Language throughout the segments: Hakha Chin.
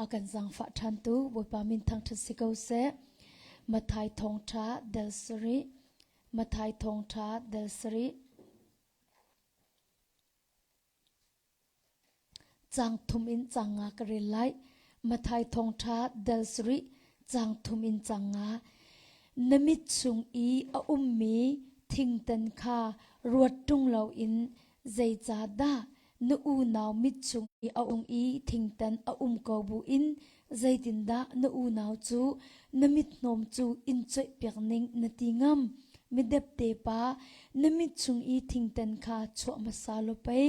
a kan zangfah ṭhan tu Bawipa min thangṭhat si ko seh. Matthai thawngṭha del sarih. Matthai thawngṭha del sarih. Cang thum in cang nga ka rel lai. Matthai thawngṭha del sarih. Cang thum in cang nga. Na mit chung i a ummi thingtan kha ruat ṭung loin zeicah dah Na unau mitcung i a um i thingtan a um ko buin zeitindah na unau cu na mithnawm cu in choihpiak ning na ti ngam? Midepte pa, na mit chung i thingtan kha chuah hmasa law pei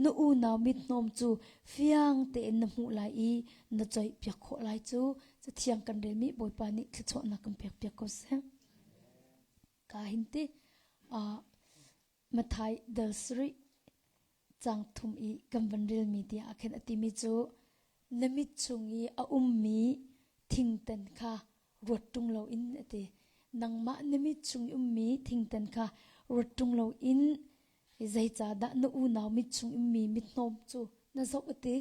na unau mithnawm cu fiang tein na hmuh lai i na choihpiak khawh lai cu. Cathiang kan relmi Bawipa nih thluachuahnak kan pekpiak ko seh. Ka hinti. Uh, Mathai dal sarih cang thum i kan van relmi tiang ah khin a timi cu na mit chung i a ummi thingtan kha ruat ṭung loin a ti. Nangmah na mit chung i ummi thingtan kha ruat ṭung loin zeicahdah na unau mit chung ummi mithnawm cu na zoh a ti.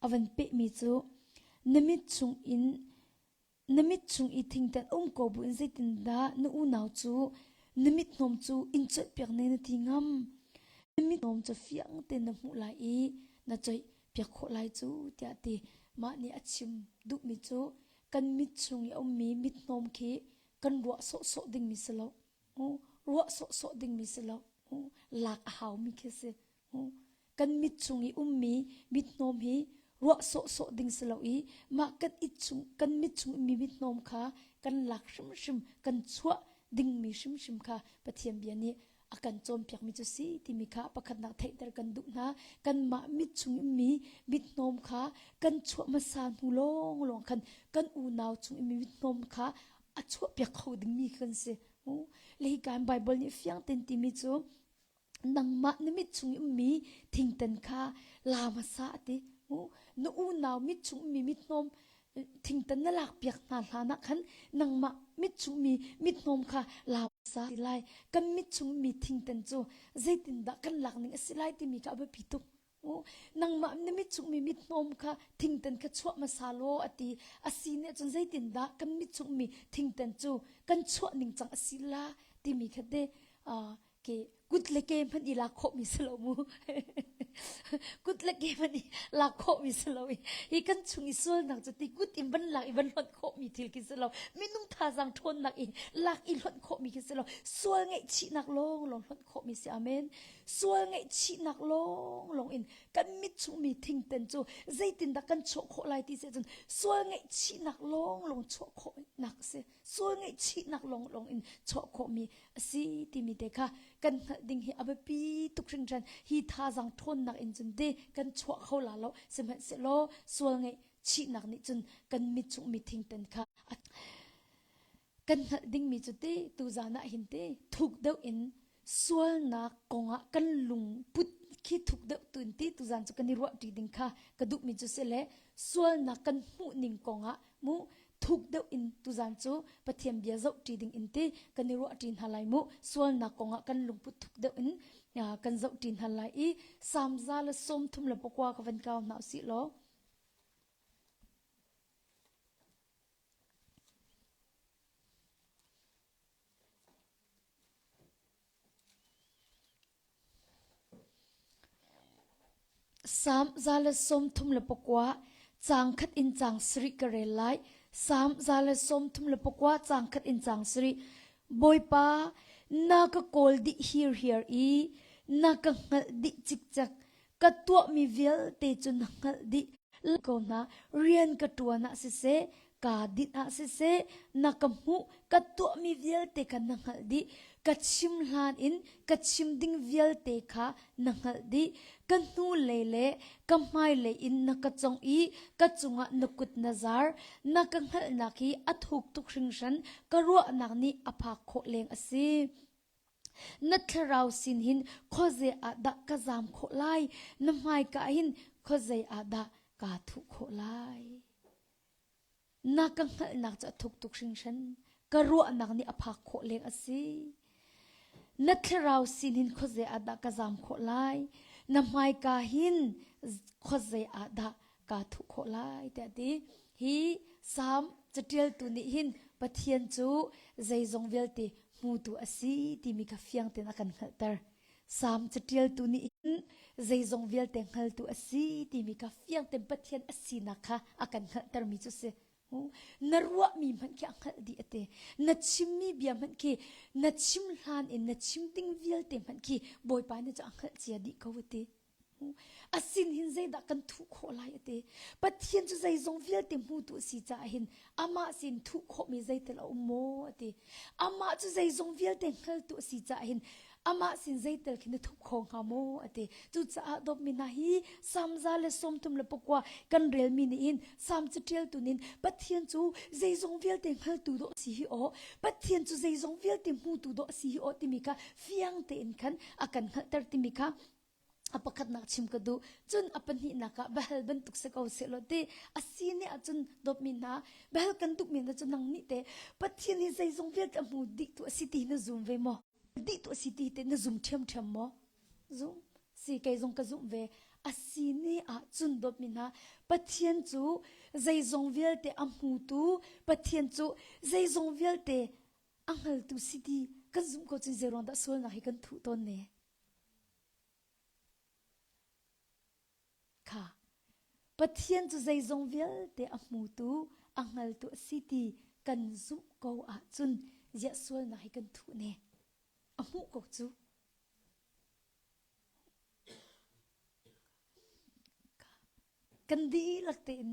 A van pehmi cu na mit chung in Na mit chung i thingtan a um ko buin zeitindah na unau cu na mithnawm cu in choihpiak ne na ti ngam? Na mithnawm cu fiang tein na hmuh lai i na choihpiak khawh lai cu tiah ti mah nih a chim duhmi cu kan mit chung i a ummi mithnawm khi kan ruah sawhsawh dingmi si lo. Ruah sawhsawh dingmi si lo. Lak a haumi khi si. kan mit chung i ummi mithnawm hi ruah sawhsawh ding si lo i mah kan it chung kan mit chung ummi mithnawm kha kan lak hrimhrim kan chuah dingmi hrimhrim kha Pathian bia nih a kan cawnpiakmi cu si timi kha pakhatnak theihter kan duh hna kanmah mit chung ummi mithnawm kha kan chuah hmasa hnu lawng lawng khan kan unau chung ummi mithnawm kha a chuahpiak kho dingmi kan si le hi kan Bible nih fiang ten timi cu nangmah na mit chung i ummi thingtan kha la hmasa a ti mu na unau mit chung ummi mithnawm thingtan na lakpiak hna hlanah khan nangmah mit chung mi mithnawm kha la hmasa ti lai kan mit chung mi thingtan cu zeitindah kan lak ning a si lai timi kha a biapi tuk nangmah na mitchungmi mithmawm kha thingtan kha chuah hmasa law a ti a si nih cun zeitindah kan mitchungmi thingtan cu kan chuah ning cang a si la timi kha te ke kut le ke hmanh i lak khawhmi si lo mu kut le ke hmanh i lak khawhmi si lo i hi kan chung i sualnak cu ti kut in van lak i van hlonh khawhmi thil khi si lo minung thazaang ṭhawnnak in lak i hlonh khawhmi khi si lo sual ngaihchihnak lawng lawng hlonh khawhmi si amen sual ngaihchihnak lawnglawng in kan mit chuhmi thingten cu zeitindah kan chuah khawh lai ti seh cun sual ngaihchihnak lawnglawng chuah khawhnak a si sual ngaihchihnak lawnglawng in chuah khawhmi a si timi te kha kan hngalh ding hi a biapi tuk hringhran hi thazang ṭhawnnak in cun te kan chuah kho la lo sihmanhsehlaw sual ngaihchihnak nih cun kan mit chuhmi thingten kha a kan hngalh dingmi cu te tuzan ah hin te thuk deuh in sualnak kongah kan lung put khi thuk deuh tun ti tuzan cu kan i ruah ṭi ding kha ka duhmi cu si le sualnak kan hmuh ning kongah mu thuk deuh in tuzan cu Pathian bia zoh ṭi ding in ti kan i ruah ṭi hna lai mu sualnak kongah kan lungput thuk deuh in kan zoh ṭi hna lai i samza le sawm thum le pakua ka van kau hna usih law Sam za le sawm thum le pakua caang khat in caang sarih ka rel lai. Sam za le sawm thum le pakua caang khat in caang sarih. Bawipa na ka kawl dih hir hir i na ka hngalh dih cikcek. ka tuahmi vialte cu na hngalh dih ko hna rian ka ṭuan ah siseh ka dinh ah siseh na ka hmuh ka tuahmi vialte kha na hngalh dih ka chim hlan in ka chim ding vialte kha na hngalh dih ka hnu lei le ka hmailei in na ka cong i ka cungah na kut na zar na ka hngalhnak hi a thuk tuk hringhran ka ruahnak nih a phak khawh leng a si Na thlarau sin hin khuazei ah dah ka zam khawh lai? Na hmaika ah hin khuazei ah dah kaa thuh khawh lai? Na ka hngalhnak cu a thuktuk hringhran. Ka ruahnak nih a phak khawh leng a si. Na thlarau sin hin khuazei ah dah ka zam khawh lai? Na hmaika hin khuazei ah dah kaa thuh khawh lai tiah ti hi salm caṭialtu nih hin Pathian cu zeizong vialte hmutu a si timi kha fiang tein a kan hngalhter. Salm caṭialtu nih hin zeizong vialte hngaltu a si timi kha fiang tein Pathian a sinak kha a kan hngalhtermi cu si. Na ruahmi hmanh khi a hngalh dih a ti. Na chimmi bia hmanh khi na chim hlan in na chim ding vialte hmanh khi Bawipa nih cu a hngalh cia dih ko a ti. a sin hin zeidah kan thuh khawh lai ati pathian cu zeizong vialte hmutu a si caah hin amah sin thuh khawhmi zeitel a um maw ati amah cu zeizong vialte hngaltu a si caah hin amah sin zeitel khin a thup kho hnga maw ati cucaah dawpmi hna hi samza le sawmtum le pakua kan relmi nih hin sam catialtu nin pathian cu zeizong vialte hngaltu dawh si hi aw pathian cu zeizong vialte hmutu dawh si hi aw timi kha fiang tein khan a kan hngalhter timi kha a pakhatnak chim ka duh cun a pahnihnak ah behal bantuk si ko sehlaw ti a si ne ahcun dawtmi hna behal kan duhmi na cu nang nih te pathian hi zeizong vialte a hmu dih tu a si ti na zum ve maw dih tu a si ti te na zum ṭhiamṭhiam maw zum si kei zong ka zum ve a si ne ahcun dawtmi hna pathian cu zeizong vialte a hmutu pathian cu zeizong vialte a hngaltu si ti kan zumh ko cun zeiruang dah sualnak hi kan thuh tawn ne Kha Pathian cu zeizong vialte a hmutu a hngaltu a si ti kan zumh ko ahcun ziah sualnak hi kan thuh ne a hmuh ko cu kan dihlak tein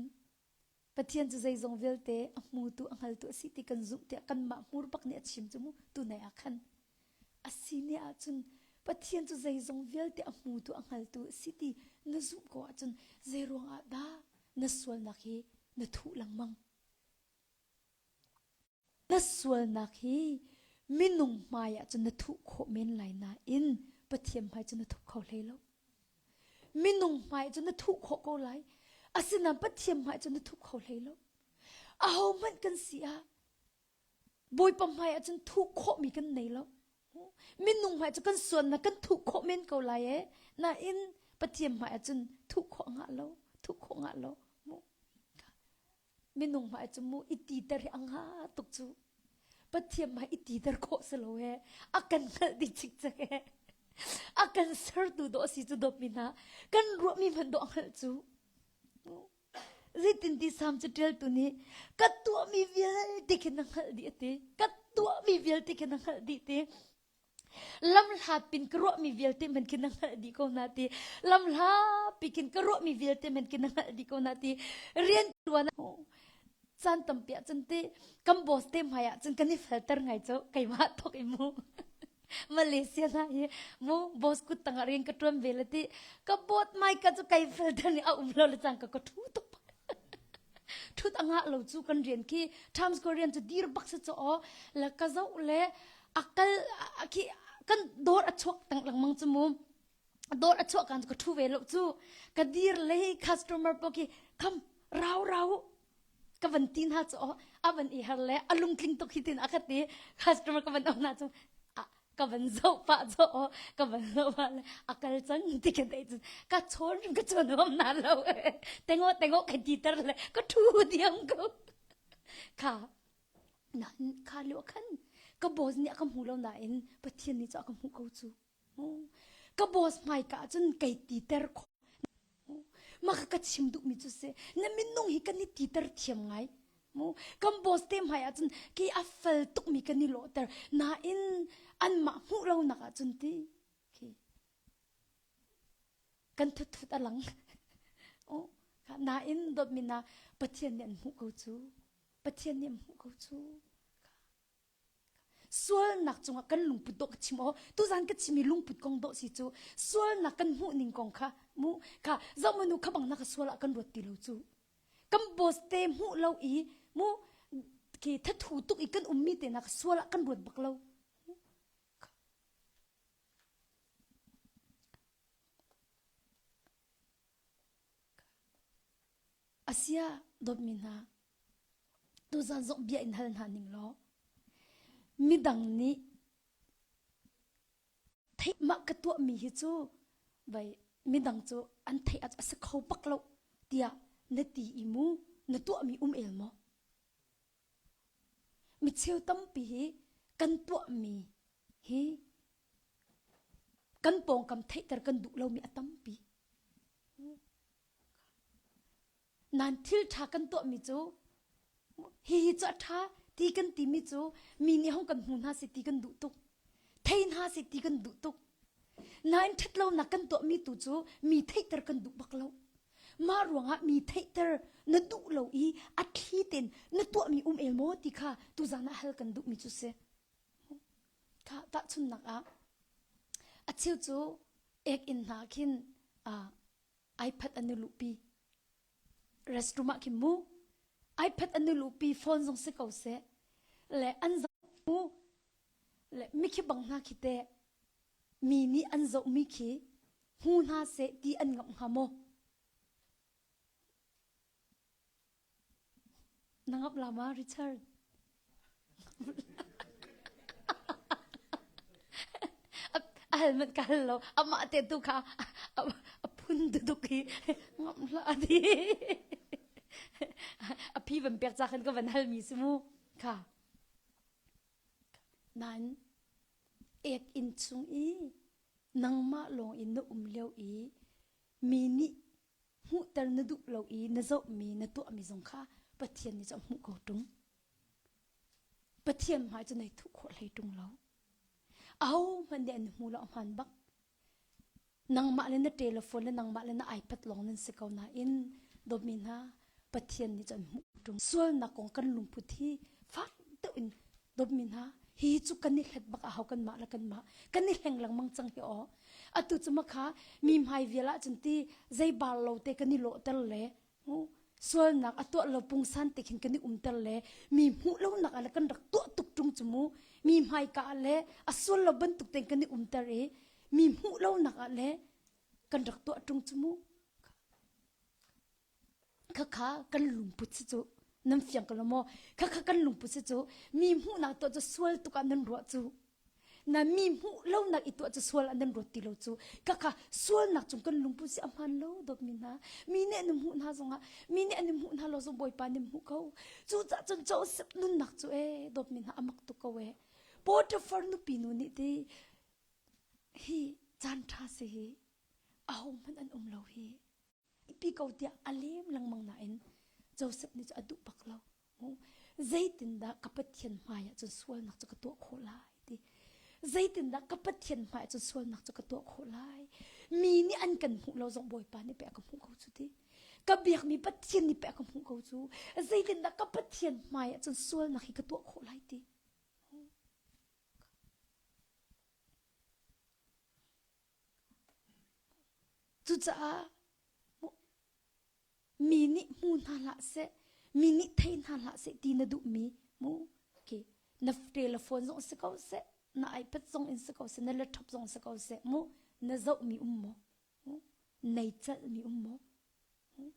Pathian cu zeizong vialte a hmutu a hngaltu a si ti kan zumh tiah kanmah hmur bak nih a chim cu mu tunai ah khan a si ne ahcun Pathian cu zeizong vialte a hmutu a hngaltu a si ti na zumh ko ahcun zei ruang ah dah na sualnak hi na thuh lengmang? Na sualnak hi minung hmaiah cun na thuh khawh men lai nain Pathian hmai cu na thup kho hlei lo. Minung hmai cu na thuh khawh ko lai. Asinain Pathian hmai cu na thup kho hlei lo. Ahohmanh kan si ah Bawipa hmai ah cun thuh khawhmi kan nei lo. Minung hmai cu kan sualnak kan thuh khawh men ko lai ee. Nain Pathian hmai ah cun thuh khawh ngah lo, thuh khawh ngah lo. minung hmai cu mu iti ter hi a nga tuk cu pathian hmai iti ter khawh si lo he a kan hngalh ding chik cak he a kan sertu do si cu dop min ha kan ruahmi hman do a hngalh cu zeitin ti sam cu ṭeltu nih ka tuahmi vialte khin a hngalh dih a ti ka tuahmi vialte khin a hngalh dih ti lam hla pin ka ruahmi vialte men kin na hngalh dih ko na ti lam hla pikin ka ruahmi vialte men kin na hngalh dih ko na ti rian tuan chan tampi ah cun ti kan boss te hmai ah cun kan i filter ngai cho keiwa thok i mu Malaysia na hi mu boss kut tang ring ka tuan ve le ti ka bot mai ka chu kai filter ni a um lo le chang ka ka thu tuk Ṭhut a ngah lo cu kan rian khi Times Square rian cu dir bak si caw la ka zoh le a kal a khi kan dawr a chuak tang lengmang cu mu dawr a chuak kan ka thu ve lo cu ka dir le customer pa khi kham rau rau ka van ti hna cu a van i har le a lungtling tuk hi tin a ka ti customer ka van aw hna cu ka van zoh pah cho ka van lo ma le a kal chan ti ka dei cun ka chon ka chon hom na lo tengo tengo ka ti tar le ka thu diam ko kha na kha lo khan ka boss ni ka mu lo na in pathian ni cha ka mu ko chu ka boss mai ka chun kai ti ter kho mu maka ka chim duhmi cu se na minung hi kan i titer thiam ngai mu kan boss te hmai ah cun ki a fal tukmi kan i lawhter nain anmah hmuh lo nak ah cun ti khi kan thuthut a lang o nain dawtmi na pathian nih an hmuh ko cu pathian nih an hmuh ko cu sualnak cungah kan lungput dawh ka chim aw tuzan ka chimi lungput kong dawh si cu sualnak kan hmuh ning kong kha mu ka zoh manu kha bang naka sual ah kan ruat ti lo cu kan boss te hmuh lo i mu ke thathu tuk i kan ummi te nak sual ah kan ruat bak lo Asia dawtmi hna, tuzan zong bia in hal hna ning law midang nih theih mah ka tuahmi hi cu vei midang cu an theih a si kho bak lo tiah na ti i mu na tuahmi um el maw mi cheu tampi hi kan tuahmi hi kan pawngkam theihter kan duh lomi a tampi Nan thil ṭha kan tuahmi cu hihi cu a ṭha ti kan timi cu mi nih hong kan hmu hna si ti kan duh tuk. Thei hna si ti kan duh tuk. Nain ṭhatlonak kan tuahmi tu cu mi theihter kan duh bak lo. Mah ruangah mi theihter na duh lo i a thli tein na tuahmi um el maw ti kha tuzaan ah hal kan duhmi cu si. Kha tahchunhnak ah a cheu cu ek inn hna khin ai phat anu lupi restroom ah kim mu ai phat anu lupi phone zong si ko se le an zo mu le mi khi bang hna khi te mi nih an zo mi khi hu hna se ti an ngam hnga maw Na ngap lam ah Richard. a hal manh ka hal lo amah te tu kha a phun duduk hi ngam hla di a phi van pek cha khan ka van hal mi si mu kha nan ek in chung i nangmah lawng in na um leo i mi nih hmuhter na duh lo i na zohmi na tuahmi zong kha Pathian nih cu a hmuh ko ṭung. Pathian hmai cu nei thuh khawh hlei ṭung lo. Ahohmanh nih an hmu lo hmaan bak. Nangmah le na telephone le nangmah le na iPad lawng nan si ko nain dawmi hna Pathian nih cun hmuh ṭung sualnak kong kan lungput hi fak deuh in dawpmi hna hi cu kan i hlet bak ahau kanmah le kanmah kan i hleng lengmang cang hi aw atu cu ma kha mi hmai vial ah cun ti zei bal lo te kan i lawhter le ngu sualnak a tuah lo pungsan te khin kan i umter le mi hmuh lonak ah le kan rak tuah tuk ṭung cu mu mi hmai ka ah le a sual lo bantuk ten kan i umter i mi hmuh lonak ah le kan rak tuah ṭung cu mu khakha kan lungput si cu nan fiang ko lo maw khakha kan lungput si cu mi hmuhnak tuah cu sual tuk ah nan ruah cu na mi hmuh lonak i tuah cu sual ah nan ruat ti lo cu khakha sualnak cung kan lungput si a hman lo dawt mi hna mi nih an hmuh hna zongah mi nih an hmuh hna lo zong bawipa nih hmuh ko cu cah cun Joseph nunnak cu e dawt mi hna amak tuk ko e Potiphar nupi nu nih ti hi caan tha si hi aho hmanh an um lo hi ipi ko tiah a lem lengmang nain Joseph nih cu a duh bak lo zeitindah ka Pathian hmaiah cun sualnak cu ka tuah khawh lai ti zeitindah ka Pathian hmaiah cun sualnak cu ka tuah khawh lai mi nih an kan hmuh lo zong Bawipa nih pek ka hmuh ko cu ti ka biakmi Pathian nih pek ka hmuh ko cu zeitindah ka Pathian hmaiah cun sualnak hi ka tuah khawh lai ti Cucaah mi nih hmu hna hlah seh, mi nih thei hna hlah seh ti na duhmi mu. Okay. Na tel na phone zong si ko seh, na iPad zong in si ko seh, na laptop zong si ko seh mu. Na zohmi um maw? Mu. Nai celhmi um maw? Mu.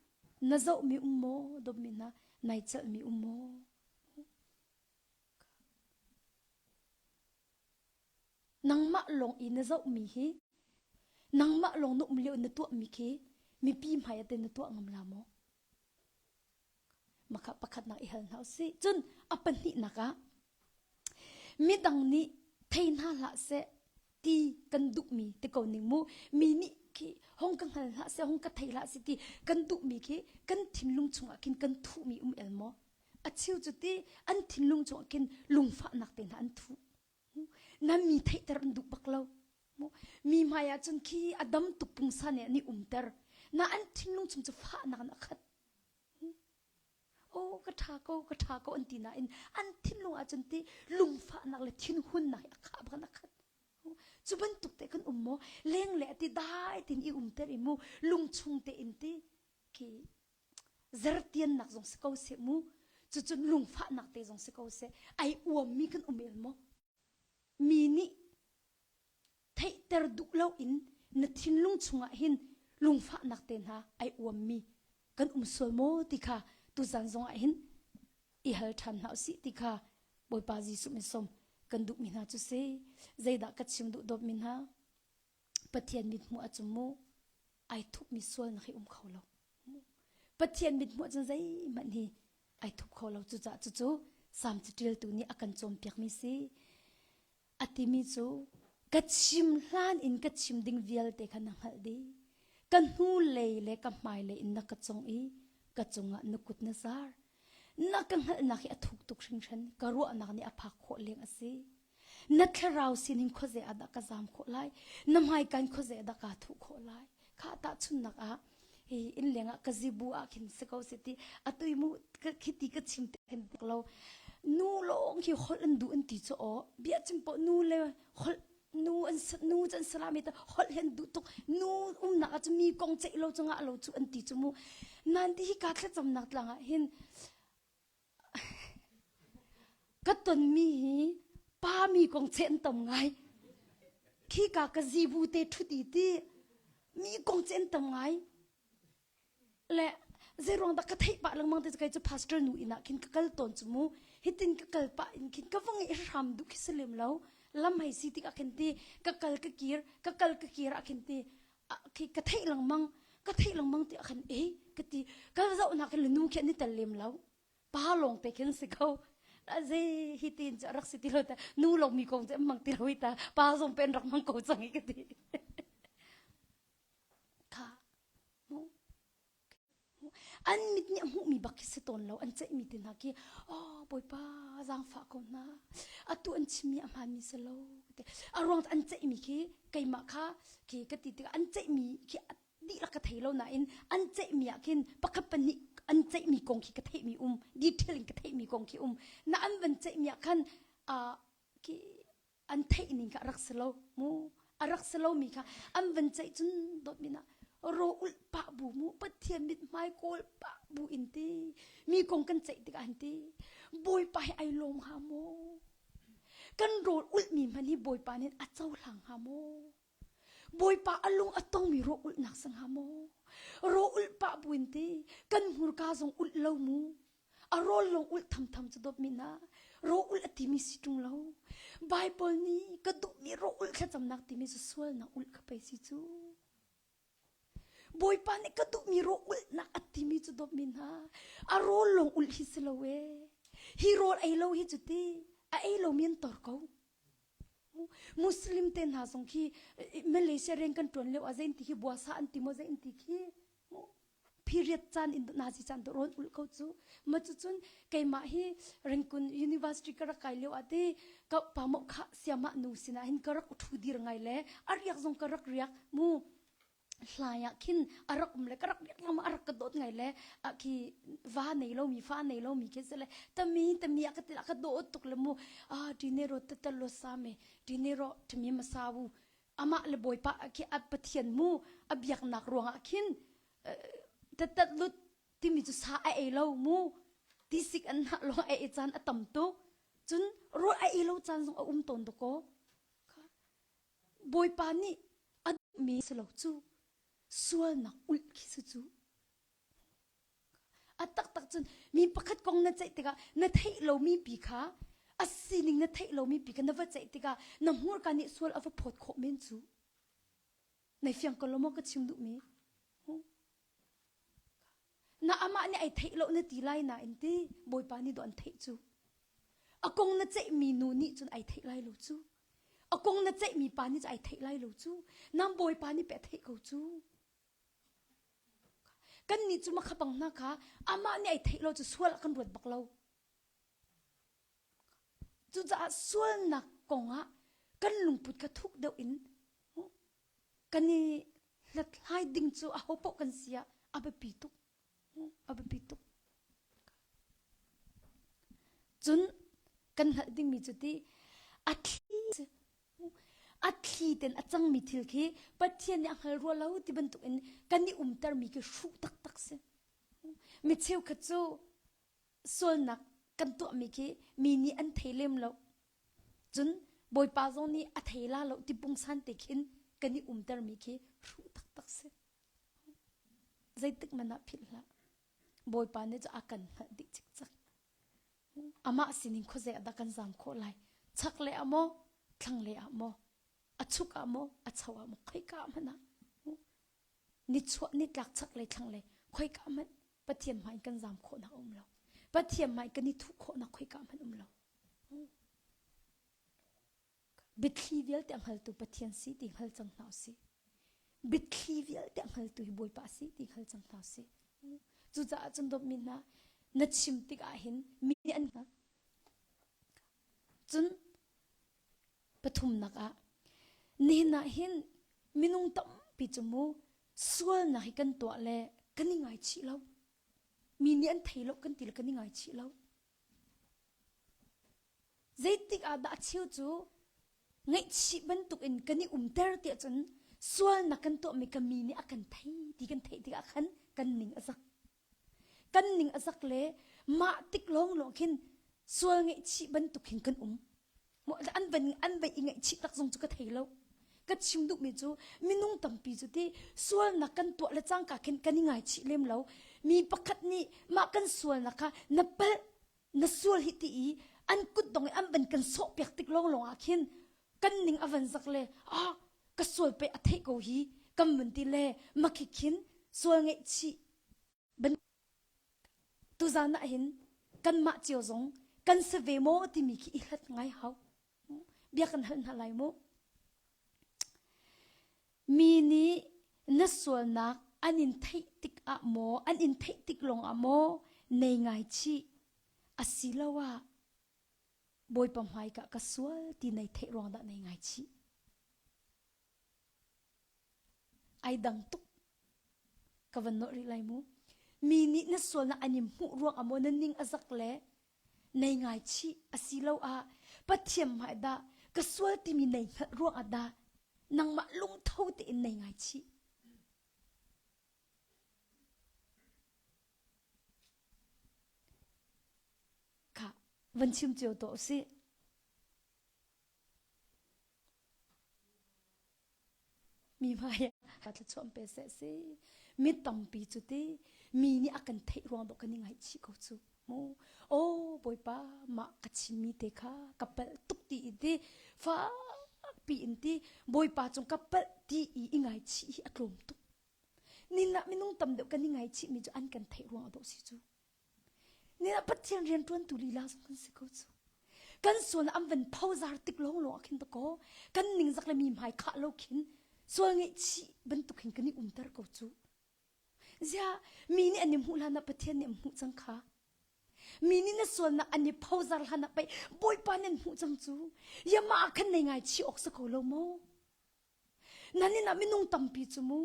Na zohmi um maw? Dawtmi hna, nai celhmi um maw? Nangmah lawng i na zohmi hi nangmah lawng na um lio na tuahmi khi mipi hmai ah teh na tuah ngam la maw? Maka pakhatnak i hal hna usih. Cun a pahnihnak ah midang nih thei hna hlah seh ti kan duhmi ti ko ning mu mi nih khi hong ka hngal hlah seh hong ka thei hlah seh ti kan duhmi khi kan thinlung chungah khin kan thuhmi um el maw a cheu cu ti an thinlung chungah khin lungfahnak te hna an thuh nan mi theihter an duh bak lo mi hmai ah cun khi a dam tuk pungsa ne an i umter na an thinlung chung cu fahnak in a khat o ka ṭha ko ka ṭha ko an ti nain an thinlung ah cun ti lungfahnak le thinhunnak a khah bak a khat cu bantuk te kan um maw leng le ti dai tin i umter i mu lungchung te in ti ki Zertiannak zong si ko seh mu. Cucun lungfahnak te zong si ko seh. Ai uammi kan um el maw? Mi nih theihter duh lo in na thinlung chungah hin lungfahnak te hna ai uammi kan um sual maw ti kha tuzan zongah hin i hal ṭhan hna usih ti kha Bawipa Jesuh min som kan duhmi hna cu si. Zeidah ka chim duh dawtmi hna? Pathian mithmuh ah cun mu ai thupmi sual na um kho lo. Pathian mithmuh ah cun zeihmanh hi ai thup kho lo. Cucah cucu Salm caṭiltu nih a kan cawnpiakmi si. A timi cu ka chim hlan in ka chim ding vialte kha na hngalh dih. Ka hnu lei le ka hmai lei in na ka cong i ka cungah na kut na zar. Na ka hngalhnak hi a thuk tuk hringhran. Ka ruahnak nih a phak khawh leng a si. na thlarau sining khoze ah dah ka zam khawh lai na hmaikan khoze dah ka thu khawh lai kha ta chunnak ah hi in leng ah ka zibu ah khin se ko se ti atui mu khiti ka chim te khin tek lo nu long hi hol an du an ti cho o bia chim po nu le hol nu an nu chan salami ta hol hen du tuk nu umnak a mi kong chei lo chunga lo chu an ti chu mu nan ti hi ka thla cham nak tlanga hin Ka tonmi hi pa mi kong cheh an tam ngai. Khika ka zibu te ṭhuti ti mi kong cheh an tam ngai. Le zeiruang dah ka theih pah lengmang te kei cu pastor nu inn ah khin ka kal tawn cu mu. Hitin ka kal pah in khin ka va ngeih hram duh khi si lem lo. Lam hei si tik ah khin ti ka kal ka kir, ka kal ka kir ah khin ti khi ka theih lengmang ka theih lengmang ti akhan e ka ti ka zoh nak hin nu khi ni tel lem lo pa long pe khin si ko la ze hi tin cha rak si ti lo ta nu long mi kong che mang ti lo ta pa zong pen rak mang ko chang i ka ti kha mu An mit nih a hmuhmi bak khi si tawn lo. An ceihmi te hna khi, "Aw Bawipa, zaangfah ko hna. Atu an chimmi a hmaanmi si lo." A ruang an ceihmi khi keimah kha khi ka ti tikah an ceihmi khi dihlak ka thei lo nain an ceihmi ah khin pakhat pahnih an ceihmi kong khi ka theihmi um. Detail in ka theihmi kong khi um. Na an van ceihmi ah khan, aa khi an theihning kha a rak si lo mu a rak si lomi kha an van ceih cun dawt min ah ro ulh pah bu mu pathian mit hmai kawl pah bu in ti mi kong kan ceih tikah an ti bawipa he ai lawm ha mu kan rawl ulh mi hmani bawipa nin a cohlang ha mu Bawipa a lung a tongmi rawh ulhnak si hnga maw? Rawh ulh pah buin ti kan hmurka zong ulh lo mu. A rawl lawng ulh thamtham cu dawp min ah rawh ulh a timi si ṭung lo. Baibal nih ka duhmi rawh ulh thlacamnak timi cu sualnak ulh kha pei si cu. Bawipa nih ka duhmi rawh ulhnak a timi cu dawp min ha. A rawl lawng ulh hi si lo ee. Hi rawl ei lo hi cu ti a ei lomi an tor ko. Muslim te hna zong khi Malaysia reng kan tuan lio ah zein ti hi buasa an ti maw zein ti khi period caan in nazi caan tu rawn ul ko cu ma cu cun keimah hi ringkun university ka rak kai lio ah ti ka pa mo kha siama nu sinah hin ka rak uthu dir ngai le ariak zong ka rak riak mu hlai ah khin a rak um le ka rak biak ngam a rak ka dawt ngai le a khi va nei lo mi fa nei lo mi ke se le tami tami a ka tel ka dawt tuk le mu a tinero te tal lo sa me tinero thmi ma sa wu ama le boi pa ki at pathian mu a biak nak ruang ah khin te tat lut timi chu sa a ei lo mu tisik an na lo a ei chan a tam tu cun ru a ei lo chan zong a um ton to ko Bawipa nih a duhmi si lo cu sualnak ulh khi si cu. A taktak cun mi pakhat kong na ceih tikah na theih lomi pi kha a sining na theih lomi pi kha na va ceih tikah na hmurka nih sual a va phawt khawh men cu. Nai fiang ko lo maw ka chim duhmi? Na amah nih ai theih lo na ti lai nain ti Bawipa nih dawh an theih cu. A kong na ceihmi nu nih cun ai theih lai lo cu. A kong na ceihmi pa nih cun ai theih lai lo cu. Nang Bawipa nih pe a theih ko cu. Kannih cu makha pang hna kha amah nih ai theih lo cu sual ah kan ruat bak lo. Cucaah sualnak kongah kan lungput kha thuk deuh in Kan i hlathlai ding cu aho paoh kan si ah a biapi tuk. A biapi tuk. Cun kan hngalh dingmi cu ti a thli a thli ten a cangmi thil khi Pathian nih a hngal rua lo ti bantukin kan i umtermi khi hruh taktak si. Mi cheukhat cu sualnak kan tuahmi khi mi nih an thei lem lo. Cun Bawipa zong nih a thei la lo ti pungsan te khin kan i umtermi khi hruh taktak si. Zeitik man ah philh hlah. Bawipa nih cu a kan hngalh dih cikcak. Amah sining khuazei ah dah kan zaam khawh lai? Chak le ah maw, thlang le ah maw, a chuk ah maw, a cho ah maw, khoi ka ah hmanh ah Nichuah, nitlak chaklei thlanglei khoika hmanh Pathian hmai in kan zam khawhnak a um lo. Pathian hmai kan i thuh khawhnak khoika hmanh um lo. Biathli vialte a hngaltu Pathian si ti hngal cang hna usih. Biathli vialte a hngaltu hi Bawipa si ti hngal cang hna usih. Cucaah cun dawtmi hna, na chim tikah hin mi an hngal. Cun Pathumnak ah, nihin ah hin minung tampi cu mu sualnak hi kan tuah le kan i ngaichih lo. Mi nih an thei lo kan ti le kan i ngaichih lo. Zeitik ah dah cheu cu ngaihchih bantuk in kan i umter tiah cun sualnak kan tuahmi ka mi nih a kan thei ti kan theih tikah khan kan ning a zak. kan ning a zak le mah tik lawnglawng khin sual ngaihchih bantuk hin kan um an van an van i ngaihchih tak zong cu ka thei lo ka chim duhmi cu minung tampi cu ti sualnak kan tuah le cangka khin kan i ngaichih lem lo mi pakhat nih mah kan sualnak kha na pal na sual hi ti i an kut dong i an ban kan sawh piak tik lawnglawng ah khin kan ning a van zak le a ka sual pe a theih ko hi kan mun ti le makhi khin sual ngeih chi ban tuzan na hin kan mah cio zong kan se ve mo timi khi i hlat ngai hau bia kan hal hna lai mu mi nih na sualnak an in theih tik ah maw an in theih tik lawng ah maw nei ngai chi asiloah Bawipa hmaikah ka sual ti nei theih ruang dah nei ngaichih. Ai dang tuk ka van nuh rih lai mu. Mi nih na sualnak an im hmuh ruang amaw na ning azak le nei ngai chi asilo a pathiam ma dah ka sual timi nei hngat ruang ah dah nangmah lungtho te in nei ngai chi Khah, van chim cio tuah usih. Mi hmai ka thlachuam pe se si. Mi tampi cu ti mi nih a kan theih ruang dawh kan i ngaihchih ko cu. Mu. Oh Bawipa, mah ka chimmi te kha ka palh tuk ti i ti fak piin ti Bawipa cung ka palh ti i i ngaichih hi a tlawm tuk. Nilah minung tam deuh kan i ngaichihmi cu an kan theih ruang dawh si cu. Nilah Pathian rianṭuantu lila zong kan si ko cu. Kan sual an van phozar tik lawnglawng ah khin to ko kan ningzak le mi hmai khah lo khin sual ngeihchih bantuk hin kan i umter ko cu. Ziah mi nih an i hmuh hlanah Pathian nih an hmuh cang kha. Mi nih na sualnak an i phozar hlanah pei Bawipa nih an hmuh cang cu. Yamah ah khan nei ngaichih awk si ko lo maw? Nanin ah minung tampi cu mu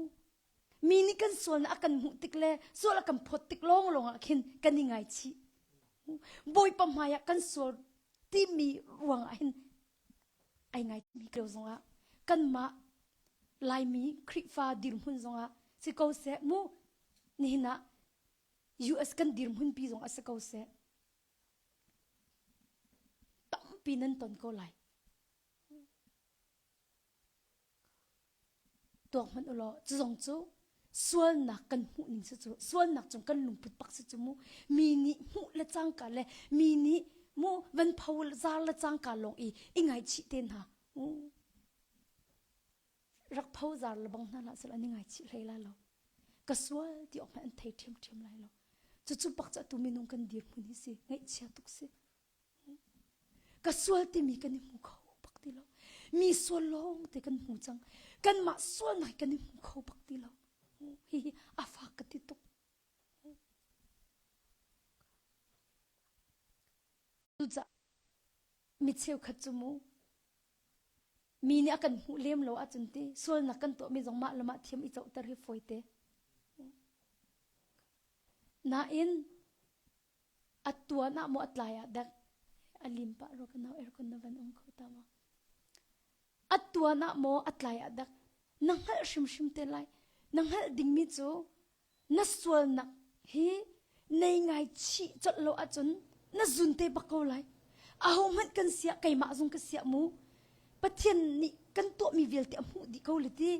mi nih kan sualnak a kan hmuh tik le sual a kan phawt tik lawnglawng ah khin kan i ngaichih. Bawipa hmai ah kan sual timi ruang ah hin ai ngaitmi keu zongah kanmah Laimi Khrihfa dirhmun zongah si ko seh mu nihin ah US kan dirhmun pi zong ah si ko seh tampi nan ton ko lai Tuak hmanh u law cu zong cu sualnak kan hmuh ning si cu sualnak cung kan lungput bak si cu mu mi nih hmuh le cangka le mi nih mu van pho zar le cangka lawng i i ngaichih te hna u rak pho zar le bang hna la sal an i ngaichih hlei la lo ka sual ti awk hmanh an thei ṭhiamṭhiam lai lo cucu bak cu atu minung kan dir hmun hi si ngaihchia tuk si ka sual timi kan i hmu kho bak ti lo mi sual lawng te kan hmu cang kanmah sual nai kan i hmu kho bak ti lo hihi a fak ka ti tuk cuca mi cheukhat cu mu mi nih a kan hmuh lem lo ahcun ti sualnak kan tuahmi zong mah le mah thiam i cohter hi fawi te nain A tuan ah maw a tlai ah dak a lim pah rua ka nau aircon na van ong kho ta maw? A tuan ah maw a tlai ah dak na hngalh hrimhrim te lai na hngalh dingmi cu na sualnak hi nei ngai chih colh lo ahcun na zun te bak ko lai aho hmanh kan siah keimah zong ka siah mu Pathian nih kan tuahmi vialte a hmuh dih ko le ti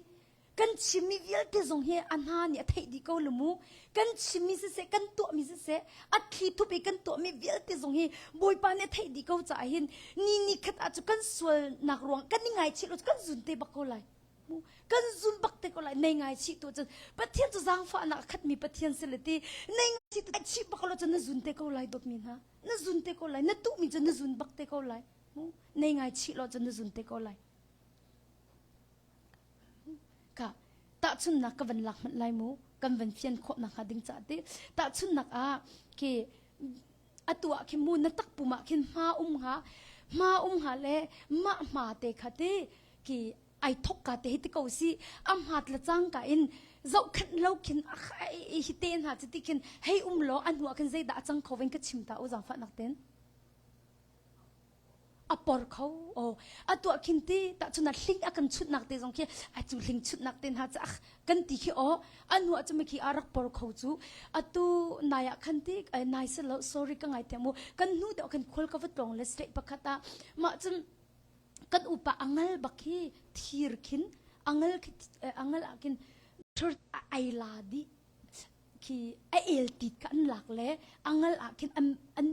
Kan chimmi vialte zong hi a hna nih a theih dih ko lu mu. Kan chimmi siseh, kan tuahmi siseh, a thli thup i kan tuahmi vialte zong hi Bawipa nih a theih dih ko caah hin ni ni khat ah cu kan sualnak ruang kan i ngaichih lo cu kan zun te bak ko lai. Mu. Kan zun bak te ko lai nei ngaichih tu cun Pathian cu zaangfahnak a khatmi Pathian si le ti nei ngaichih tu ngaichih bak lo cun na zun te ko lai dawtmi hna. Na zun te ko lai. Na tuhmi cu na zun bak te ko lai. Mu. Nei ngaichih lo cun na zun te ko lai. Ka tahchunnak ka van lak hmanh lai mu kan van fian khawh nakhnga ding caah ti tahchunnak ah khi atu ah khin mu na takpum ah khin hma um nga hma um nga le mah hma te kha ti ki ai thok ka te hi ti ko si a hmat la chang ka in zohkhat lo khin a khai hi te hna chi ti khin hei um law a hnu ah khin zeidah a cang khoven ka chim ta u zang fa nak ten a por kho o a tuah khin ti ta cun a hling a kan chunnak te zong khi a cu hling chunnak te hna cu ach kan ti khi o anu a chumi khi a rak por kho chu atu nai ah khan ti nai se lo sorry ka ngai te mu kan nu te kan khol ka va tlong le se pakhat a ma cun kan upa angal bak hi thir khin angal khi angal a kin thur ai la di khi a el tit ka an lak le angal a kin an an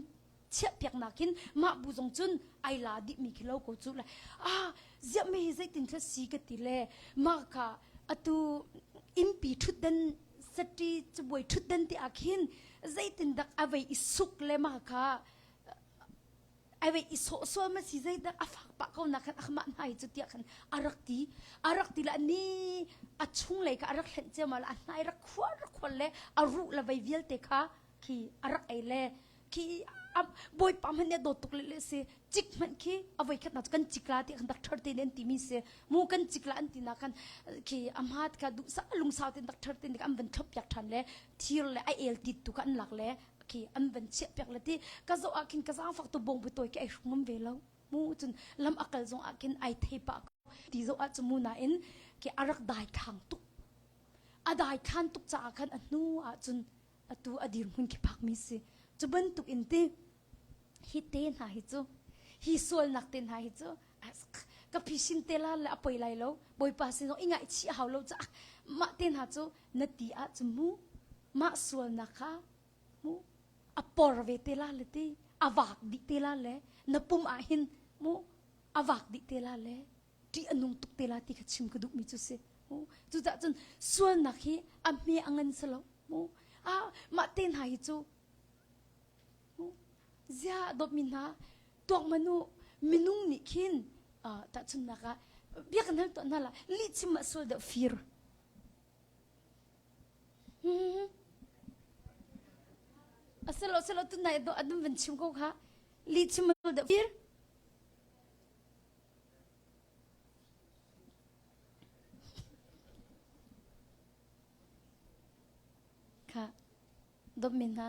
chiahpiaknak in mah bu zong cun ai la dihmi khi lo ko cu le ah ziah me hi zeitin thil si ka ti le mah ka atu impi ṭhutdan sati cabuai ṭhutdan te ahkhin zeitin dak avei i suk le ma ka avei i sawh sual ma si zeidak a fak pah ko nak khan akhmah hna hi cu tia khan arak ti arak ti la ni a chung lei ka arak hlen ceu ma la a hnai rak khua rak khol le a ru la vei vialte kha khi arak ei le khi bawipa hmanh nih a dawt tuk le si cik hmanh khi avoi khat na cu kan cikla ti khan dak thar te nen ti mi si mu kan cikla an ti na khan khi ama ka du sa lungsau ten dak thar ten an van thlop piak than le thir le a el tit tu kan lak le khi an van chiah piak le ti ka zo a khin ka zang fak to bong bu toy ke ai shungum ve lo mu chun lam akal zong a khin ai thei pa ti zo a chu mu na in ke arak dai khang tuk a dai khan tuk cha khan a nu a chun atu a dirhmun khi phakmi si cu bantuk in ti hi te hna hi cu hi sualnak te hna hi cu ka phishin te la le a poi lai lo bawipa sin i ngaichih hau lo ca mah te hna cu na ti ah cu mu mah sualnak kha mu a por ve te la le ti a vak dih te la le na pum ah hin mu a vak dih te la le ṭih a nung tuk te la ti kha chim ka duhmi cu si. Cucaah cun sualnak hi a hme a ngan si lo. Mah te hna hi cu zia dawtmi hna tuakman u minung nih khin tahchunhnak ah biakinn hal tuah hna la lihchim ah sual deuh fir. A si lo, si lo, tu nai dawh adum van chim ko kha. Lihchim ah sual deuh fir. Kha dom men hna.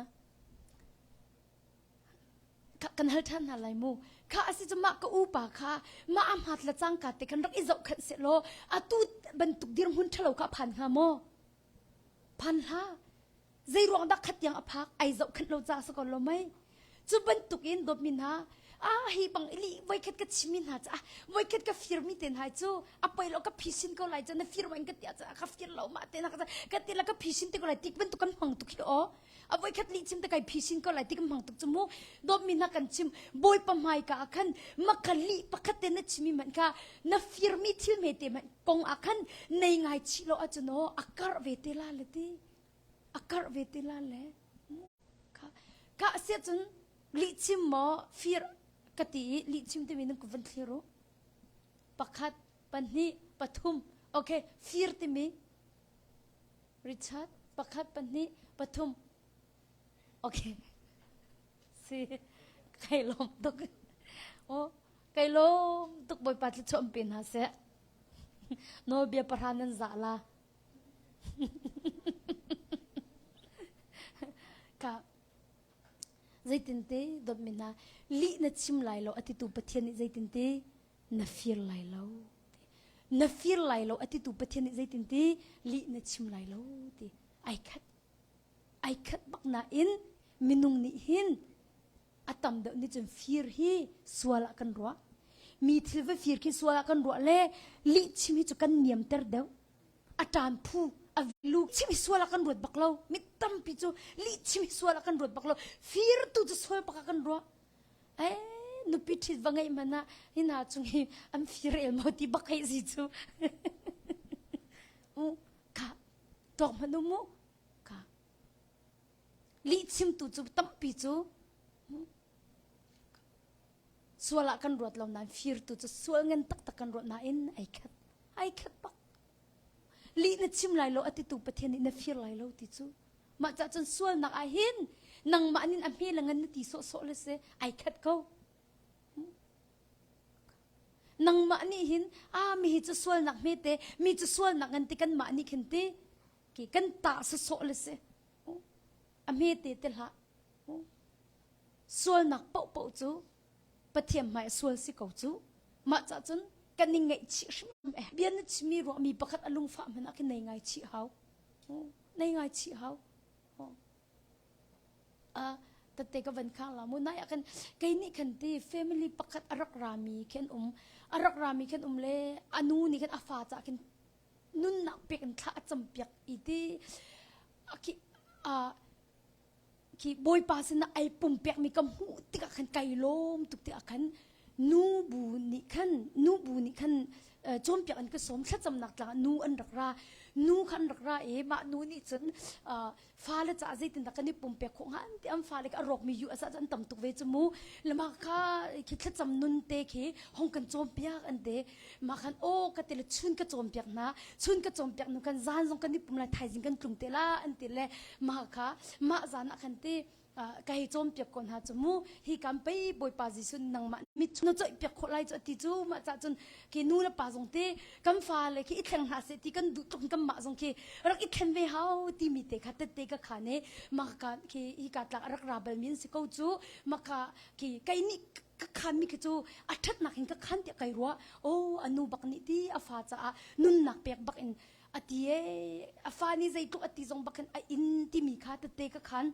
Kha kan hal ṭhan hna lai mu. Kha asi cu mah ka upa kha mah am hat la cang ka te kan rak i zoh khan se law atu bantuk dirhmun ṭhalo ka phan hnga maw? Phan hla. Zeiruang dah khatiang a phak ai zohkhenh lo ca sa ko lo mei. Cu bantuk in dawtmi hna ah hi bang ili voikhat ka chimmi hna cu ah voikhat ka firmi te hna cu a poi lo ka phisin ko lai cun na fir wain ka tia ca ka fir lo ma te na ka ka ti la ka phisin te ko lai tik bantuk kan hmang tuk hi o a voikhat li chim te kai phisin ko lai tik hmang tuk chu mu dawtmi hna kan chim boi pa mai ka khan maka li pakhat te na chimi man ka na firmi thil me te man kong a khan nei ngai chi lo a chuno a kar ve te la leti a karh ve ti la le kah siah cun lihchim maw fir ka ti i lihchim timi nan ku van thlir u pakhat pahnih pathum okay fir timi richard pakhat pahnih pathum okay si kai lawm tuk o kai lawm tuk bawipa thluchuah pe hna seh nawlbia pahra nan zah la ka zeitinte dotmi hna lih na chim lai lo a titu pathian nih zeitinte na fir lai lo na fir lai lo a titu pathian nih zeitinte lih na chim lai lo ti ai khat ai khat bak na in minung nih hin A tam deuh nih cun fir hi sual ah kan ruah. Mi thil va fir khi sual ah kan ruah le lih chim hi cu kan niamter deuh. A ṭan phu, a lu chim hi sual ah kan ruat bak lo. Mi tampi cu lih chim hi sual ah kan ruat bak lo. Fir tu cu sual bak ah kan ruah. Eh, nupi ṭhit va ngeih hmanh ah hina chung hi an fir el maw ti bak hei si cu. U, ka, ṭawk hmanh u mu. lihchimtu cu tampi cu sual ah kan ruat lo nain firtu cu sual ngan taktak kan ruat nain ai khat ai khat bak lih na chim lai lo a titu pathian nih na fir lai lo ti cu mah cah cun sualnak ah hin nangmah nin a hme la ngan na ti sawhsawh le se ai khat ko nangmah nih hin a mi hi cu sualnak hmete mi cu sualnak ngan ti kanmah nih khin ti ki kan tah sasawh le si a hmete te hlah sualnak pohpoh cu pathian hmai sual si ko cu mah ca cun kan i ngaih chih hrim eh bia na chimi ruahmi pakhat a lungfah hman ah nei ngai chih hau nei ngai chih hau uh, tate ka van khang la mu nai akan kai ni khan ti family pakhat arak rami khen um arak rami khen um le anu ni khan afa cha khin nunnak pek in thla a campiak i ti khi bawipa sinah ai pumpekmi ka hmuh tikah khan kai lawm tuk ti ah khan nu bu nih khan nu bu nih khan cawnpiak an ka sawm thlacamnak tlak nu an rak ra nu kha an rak ra i mah nu nih cun fale ca zeitindah kan i pumpek khawh hnga ti am fale a rawkmi yu asah an tam tuk ve cu mu lama kha khi thlacam nun te khi hong kan cawm piak an te ma khan o ka tele chun ka cawm piak na chun ka cawm piak nu kan zan zong kan i pum lai thaizing kan tlung te la an ti le ma kha ma zan ah khan ti ka hei cawmpiak ko hna cu mu hi kan pei bawipa jesuh nangmah mit na coih piak khawh lai cu ati cu mah cah cun ki nu le pa zong te kan fa le khi i thleng hlah se ti kan duh tuk kan mah zong khi rak i thleng ve hau ti mi te kha tette ka kha ne maka khi i ka tlak rak ra bal min si ko cu maka ki kai ni ka khan mi khi chu a that nak hin ka khan ti kai ruwa o anu bak ni ti a fa cha a nun nak pek bak in a ti e a fa nih zeitluk a ti zong bakhin a in timi kha tete ka khan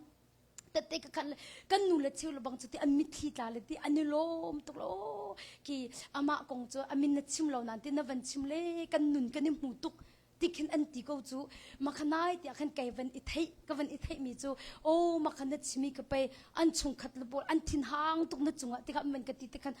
tete ka khan kan nu le chiu le bang cu ti an mitthli tla le ti an i lawm tuk lo ki amah kong cu amin na chim lo nan ti na van chim le kan nun kan i hmu tuk tikhin an ti ko cu makhanai tia khan kai van i thei ka van i thei mi cu o makhan na chimi ka pei an chung khat le bol an thin hang tuk na chungah tikhan man ka ti te khan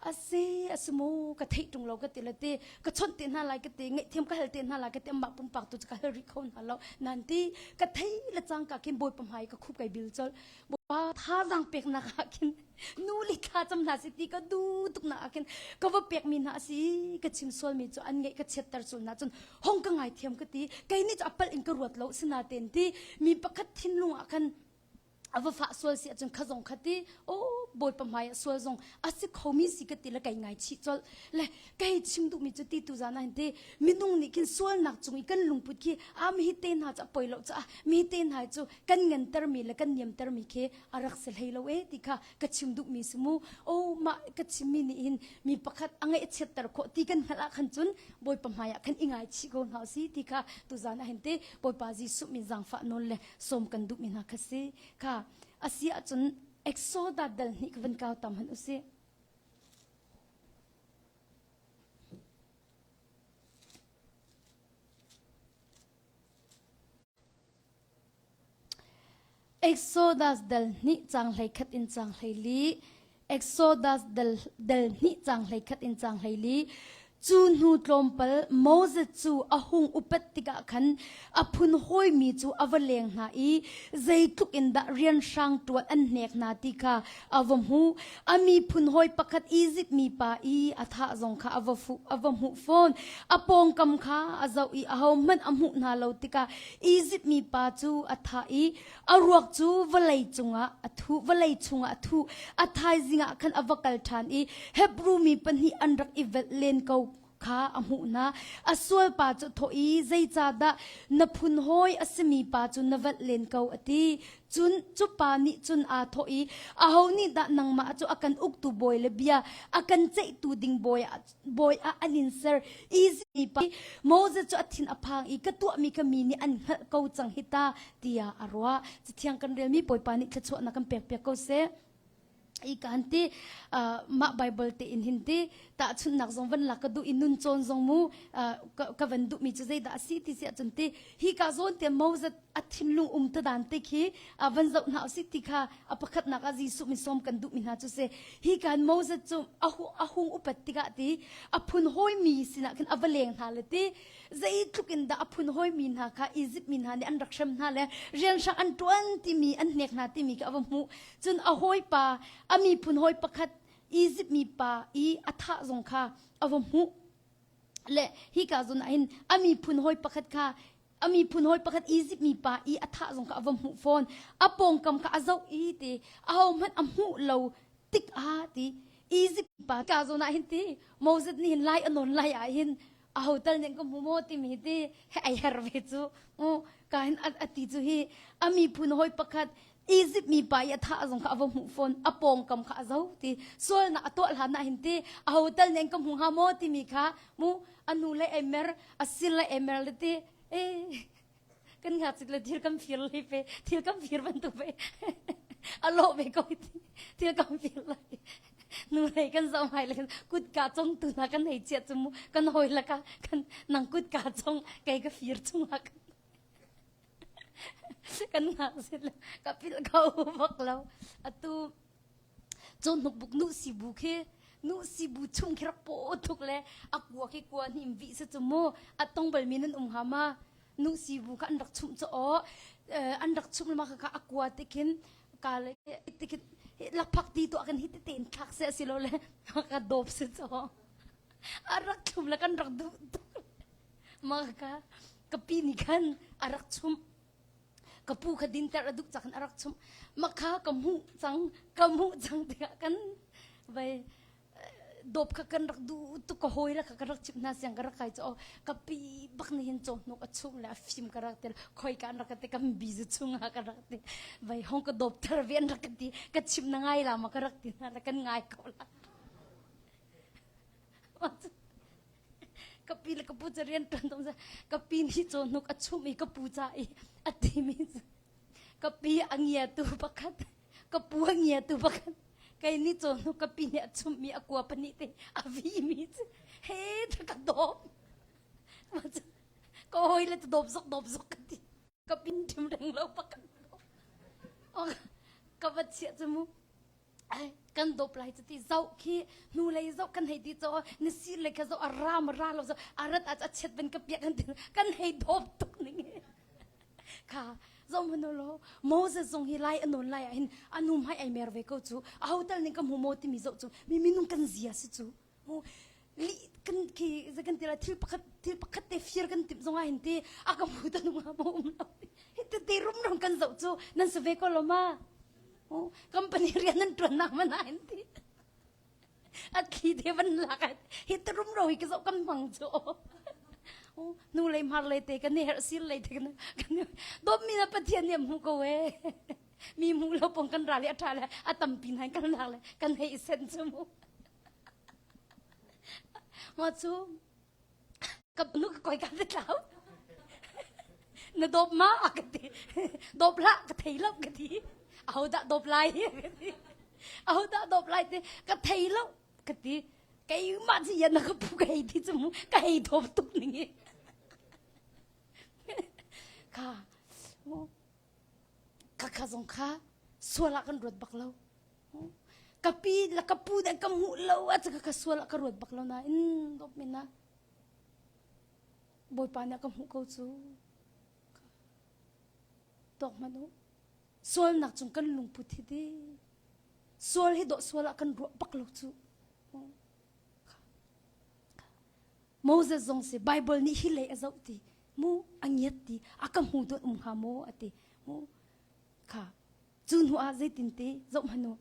a si a si mu ka theih tung lo ka ti le ti ka chawnh te hna lai ka ti ngaih thiam ka hal te hna lai ka ti amma pumpak tu ka hal ri kho hna lo nan ti ka thei la chang ka kin boy pamai ka khup kai bil chol bopa tha zang pek na ka kin nu li kha cham hna si ti ka du tuk na akin ka va pek mi na asi ka chim sol mi chu an ngai ka chet tar sul na chun hong ka ngai thiam ka ti kai ni chu apal in ka ruat lo sina ten ti mi pakhat thin lu akan a va fa sual si ahcun kha zong kha ti o bawipa hmai ah sual zong a si khomi si ka ti le kei ngai chih colh le kei chim duhmi cu ti tu zan hin te minung nih khin sualnak cung i kan lungput khi a mi hi te hna cu a poi lo caah mi te hna cu kan ngantermi le kan niamtermi khi a rak si hlei lo e ti kha ka chim duhmi si mu o mah ka chimmi nih hin mi pakhat a ngaih chiatter khawh ti kan hngalh ah khan cun bawipa hmai ah khan i ngai chih ko hna si ti kha tu zan ah hin te bawipa jesuh min zangfah nawn le som kan duhmi hna kha si kha a si ahcun exoda dal hnih ka van kau tam han usih exodas dal hnih cang hlei khat in cang hlei li Exodus del, del hnih cang hlei khat in cang hlei li cu hnu tlawmpal Moses cu a hung upat tikah khan a phun hawimi cu a va leng hna i zeitluk in dah rian hrang ṭuan an hnek hna ti kha a va hmu. A miphun hawi pakhat Izipt mi pa i a thah zong kha a va fu, a va hmuh fawn. A pawngkam kha a zoh i ahohmanh a hmuh hna lo tikah Izipt mi pa cu a thah i A ruak cu vawlei cungah a thu, vawlei chungah a thu. A thaizing ah khan a va kal ṭhan i Hebru mi pahnih an rak i velh len ko kha a hmuh hna. A sualpa cu thawh i, Zeicahdah na phun hawi a simi pa cu na velh len ko, a ti. Cun cupa nih cun aa thawh i, Aho nih dah nangmah cu a kan uktu bawi le bia a kan ceihtu ding bawi ah Bawi ah an in ser easy pa Moses cu a thin a phang i ka tuahmi ka mi nih an hngalh ko cang hi ta tiah a ruah ci thiang kan relmi bawipa nih thluachuahnak kan pek piak ko seh i kaan ti uh, mah bible te in hin ti tahchunnak zong van lak ka duh i nun cawn zong mu uh, ka, ka van duhmi cu zeidah a si ti si ahcun ti hi ka zawn te moses a thinlung um te dan te khi van zoh hna usih ti kha a pakhatnak ah Jesuh mi sawm kan duh mi hna cu se hi kan Moses cu a hung upat tikah ti a phun hoi mi sinah khan a va leng hna le ti zei tluk in dah a phun hoi mi hna kha Egypt mi hna nih an rak hrem hna le rian hrang an tuan timi an hnek hna timi kha a va hmu cun a hoi pa a mi phun hoi pakhat Egypt mi pa i a tha zong kha a va hmu le hi ka zun ahin ami phun hoi pakhat kha a miphun hawi pakhat Egypt mi pa i a thah zong kha a va hmuh fawn a pawngkam kha a zoh i ti a ho hmanh a hmuh lo tik ah ti Egypt pa ka zon ah hin ti Moses nih hin lai anon lai ah hin a ho tal nih ka hmu maw timi ti he ai her ve cu u ka hin a ti cu hi a miphun hawi pakhat Egypt mi pa i a tha zong kha a va hmuh fawn a pawngkam kha a zo ti sualnak a tuah hlan ah hin ti a ho tal nih an ka hmu hnga maw timi kha mu anu le ai mer a sin le ai mer le ti eh kan nga chik le thil kan fir li pe thil kan fir bantuk ve a lo ve ko ti thil kan fir lai nu lei kan zau hai le kut ka chong tu na kan nei chia chumu kan hoi la ka kan nang kut ka chong kai ka fir chung la kan kan nak sin ka pil kho bak lo atu cho nuk buk nu si bu khi nu si bu chung khira po thuk le akua khi kwa hnim vi se chu mo atong bal mi nan um ha ma nu si bu kha an rak chum cho o an rak chung ma kha akua te khin ka le te khin lakphak ti to kan hi te ten thak se asilo le ka dop se cho arak chum la kan rak du maka ka pi ni khan arak chum ka pu kha dinter a duh cakhan arak chum makha ka mu cang ka mu cang tiah kan vai dop kha kan rak du tu ka hoi la ka rak chip na siang ka rak kai cho ka pi bak ni hin chom nok a chung la fim ka rak tel khoi kan rak te kam bizu chunga ka rak te vai hong ka dop thar ven rak ti ka chip na ngai la ma ka rak ti na la kan ngai ko la ka pi le ka pu ca rian ṭuan tung ka pi nih caw hnuk a chumh i ka pu ca i a timi ka pi a ngiatu pakhat ka pu a ngiatu pakhat kei nih caw hnuk ka pi nih a chumh i a kua pahnih te a vimi cu he tha ka dawp ka hawi le dawp zok dawp zok ka ti ka pin ṭim reng lo pakhat ka va chiah cu mu kan dop lai cu ti zoh khi hnu lei zoh kan hei ti cho na sir le kha zoh a ram ra lo zo arat a chet ben ka piak kan kan hei dop tuk ning kha zom hunu lo moses zong hi lai anon lai a hin anu mai ai mer ve ko chu a hotel ning ka mu mo ti mi zo chu mi minung kan zia si chu kan ki kan ti la thil pakhat thil pakhat te fir kan tip zonga hin ti a ka mu tan nga mo um lo hi te te rum rum kan zo chu nan se ve ko lo ma company rian nan tuan nak mana hin ti at khi de ban la ka hi te rum ro hi ka zo kan mang chu nu lei mar lei te kan her sir lei te kan kan dom mi na pathian niam hu ko e mi mu lo pong kan ra le atha le atam pin hain kan la le kan hei sen chu mu Mah cu ka nu ka koi ka ti tlau. Na dawp ma a ka ti. Dawp lah ka thei lo ka ti. Aho dah dawp lai ka ti. Aho dah dawp lai ti ka thei lo ka ti. Kei mah ci yan na ka pu ka hei ti cu mu. Ka hei dawp tuk ning i. Ka mu Khakha zong kha sual ah kan ruat bak lo. Ka pi le ka pu nih ka hmuh lo a caka ka sual ah ka ruat bak lo nain dawp min ah Bawipa nih ka hmuh ko cu. Tuak hmanh u. Sualnak cung kan lungput hi di. Sual hi dawh sual ah kan ruah bak lo cu. Moses zong si Bible nih hi leh a zoh ti mu a ngiat ti a ka hmu dot um hnga maw a ti mu kha cu hnu ah zeitin ti zoh hmanu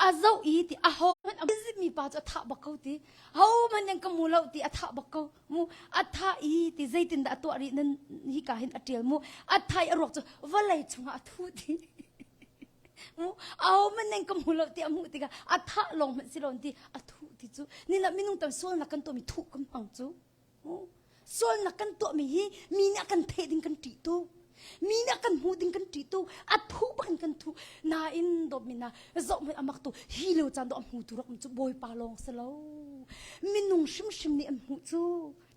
a zoh i ti a ho hmanh mi pa cu a thah bak ko ti ho hmanh yang ka mu lo ti a thah bak ko mu a thah i ti zeitin dah a tuah rih nan hi ka hin a tial mu a thai a ruak cu vawlei chungah a thu ti Mu au man neng ka hmu lo ti a hmuh tikah a thah lawng hmanh si lo ti a thuh ti cu nina minung tam sual nak kan tuahmi thuh kam hmang cu sual nak kan tuahmi hi mi nih a kan theh ding kan ṭih tu mi nih a kan hmuh ding kan ṭih tu a thuh bak in kan thuh nain dawtmi na zoh hmanh amak tu hi lo caan dawh a hmu tu rak cu bawipa lawng si lo minung hrimhrim nih an hmuh cu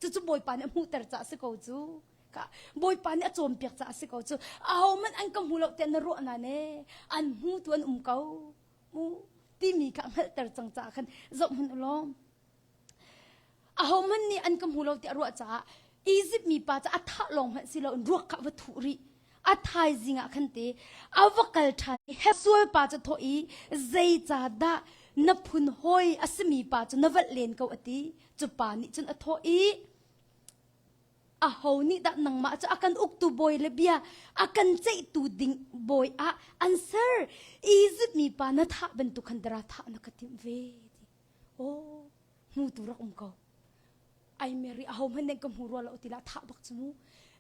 cucu bawipa nih a hmuhter caah si ko cu ka bawipa nih a cawnpiak caah a si ko cu ahohmanh an ka hmu lo tiah na ruah na ne an hmu tu an um ko mu timi kha hngalhter cang caah khan zoh hman u lawm ahohmanh nih an ka hmu lo tiah ruah caah Egypt mi pa ca a thah lawng hmanh si loin ruak kha va thu rih a thaizing ah khan te a va kal ṭhan i sual pa cu thaw i zeicah dah na phun hoi a simi pa cu na valh len ko a ti cu pa nih cun a thawh i aho nih dah nangmah cu a kan uktu bawi le bia a kan ceihtu ding bawi ah an ser Izipt mi pa na thah bantuk khan dara thah na ka timh ve oh hmu tu rak um ko ai mary a ho hman nen ka hmu rua lo tilah thah bak cu mu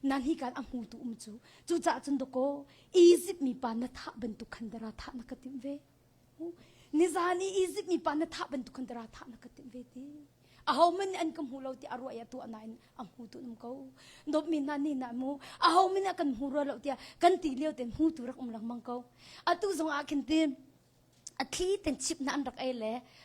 nan hi kan a hmu tu um cu cucaah cun doko Izipt mi pa na thah bantuk khan dara thah na ka timh ve Nizan i Izipt mi pa na thah bantuk khan dara thah na ka timh ve ti. Aho man nih an ka hmu lo ti a ruah i a tuah nain a hmu tu nam ko. Dawp mi hna nih na mu. Aho min ah kan hmu rua lo tiah kan ti lio ten hmu tu rak um lengmang ko. Atu zong ah khin tim a thli ten chip na an rak ei le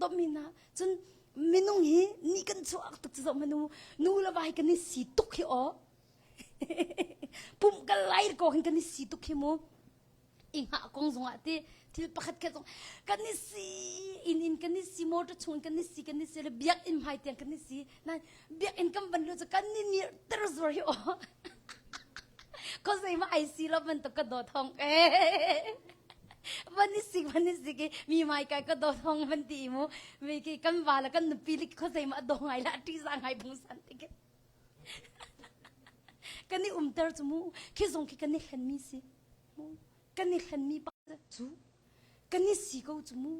domhin ah cun minung hi ni kan chuak tak cu manu nu le vai kan i si tuk hi o pum kan lair ko hin kan i si tuk hi mu inga kong zong ah ti thil pakhat ke zong kan i si in in kan i si motor chung kan i si kan i si le biak in hmai tiang kan i si nan biakinn kan ban lu cu kan ni nir ter zuar hi aw ko zei ma ai si lo bantuk ka do thong ke van ni sik van ni sik i mi mai kai ka do thong van ti mu me ke kan wa la kan nupi lik ko zei ma do ngai la ti za ngai bung san ti ke kan ni um ter chu mu khi zong khi kan ni hlen mi si mu kan ni hlen mi pa chu kan i si ko cu mu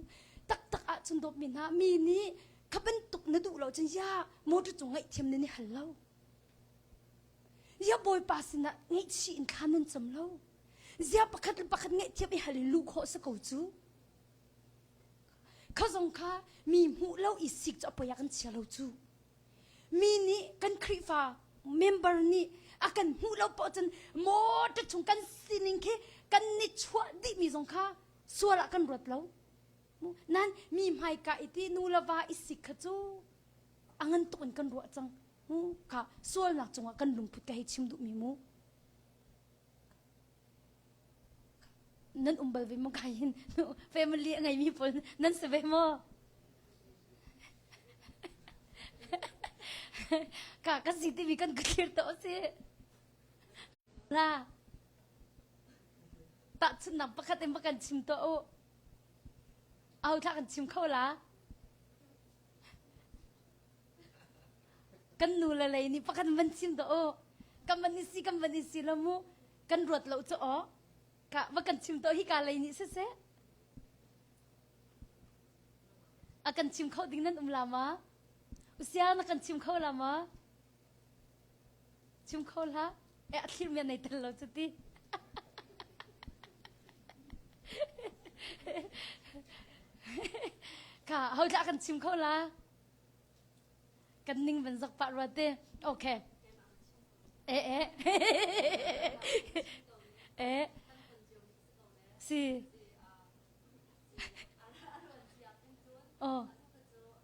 taktak ah cun dawpmi hna mi nih ka bantuk na duh lo cun ya motor cu ngaih thiam nan i hal lo ya bawipa sinah ngaihchih in thla nan cam lo zia pakhat le pakhat ngaihthiam i hal in lu khawh sa ko cu kha zong kha mi hmuh lo i sik cu apoi a kan chia lo cu mi nih kan Khrihfa member nih a kan hmuh lo paoh cun motor chung kan sining khi kan ni chuah dihmi zong kha sual ah kan ruat lo. Nan mi hmaika i ti nu le va i sik kha cu a ngan tuk in kan ruah cang. Ka sualnak cungah kan lungput ka hei chim duhmi mu. nan um bal ve maw kai hin family a ngeimi pawl nan si ve maw ka ka si timi kan ka thlir to si na tahchunnak pakhat in kan chim to u au thla kan chim kho la kan nu le lei nih pakhat van chim dah aw kan van i si kan van i si lo mu kan ruat lo cu aw ka va kan chim to hi ka lei nih siseh a kan chim kho ding nan um la ma usia na kan chim kho la ma Chim kho hlah. Eh, a thlirmian nei tel lo cu ti. Ka, hau tla kan chim kho la. Kan ning van zak pa rua te. Okay. Eh, eh. eh. Si. Oh.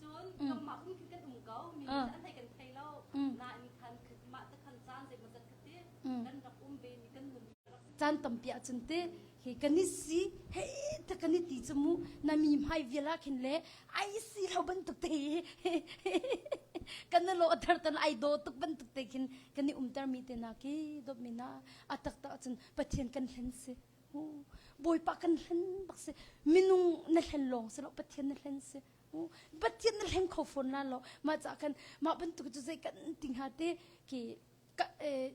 Cun nangmah kong khi kan um ko, mi an theih kan thei lo. Nain khan mah te khan caan zei maw zat ka ti, kan rak um ve mi kan nung caan tampi ahcun te hi kan i si hei ta kan i ti cu mu na mi hmai viala khin le ai si lo bantuk te kan lo athar tan ai do tuk bantuk te khin kan i umter mi te na ki dop mi na atak ta cun pathian kan hlen si bawipa kan hlen bak si minung na hlen long si lo pathian na hlen si Pathian na hleng kho fawn la lo mah ca kan mah bantuk cu zei kan ti hnga te ki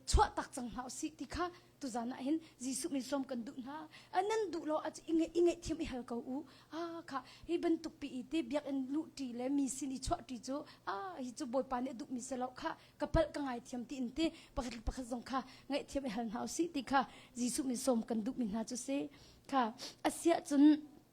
chuah tak cang hna si ti kha tu zan ah hin Jesuh min som kan duh hna nan duh lo a i nge thiam i hal ko u a kha hi bantuk pi i te biakinn lu ṭi le mi sin i chuah ṭi cu a hi cu bawipa nih a duh mi se lo kha ka palh ka ngai thiam ti in te pakhat le pakhat zong kha ngai thiam i hal hna u si ti kha Jesuh min som kan duh mi hna cu si kha asiah cun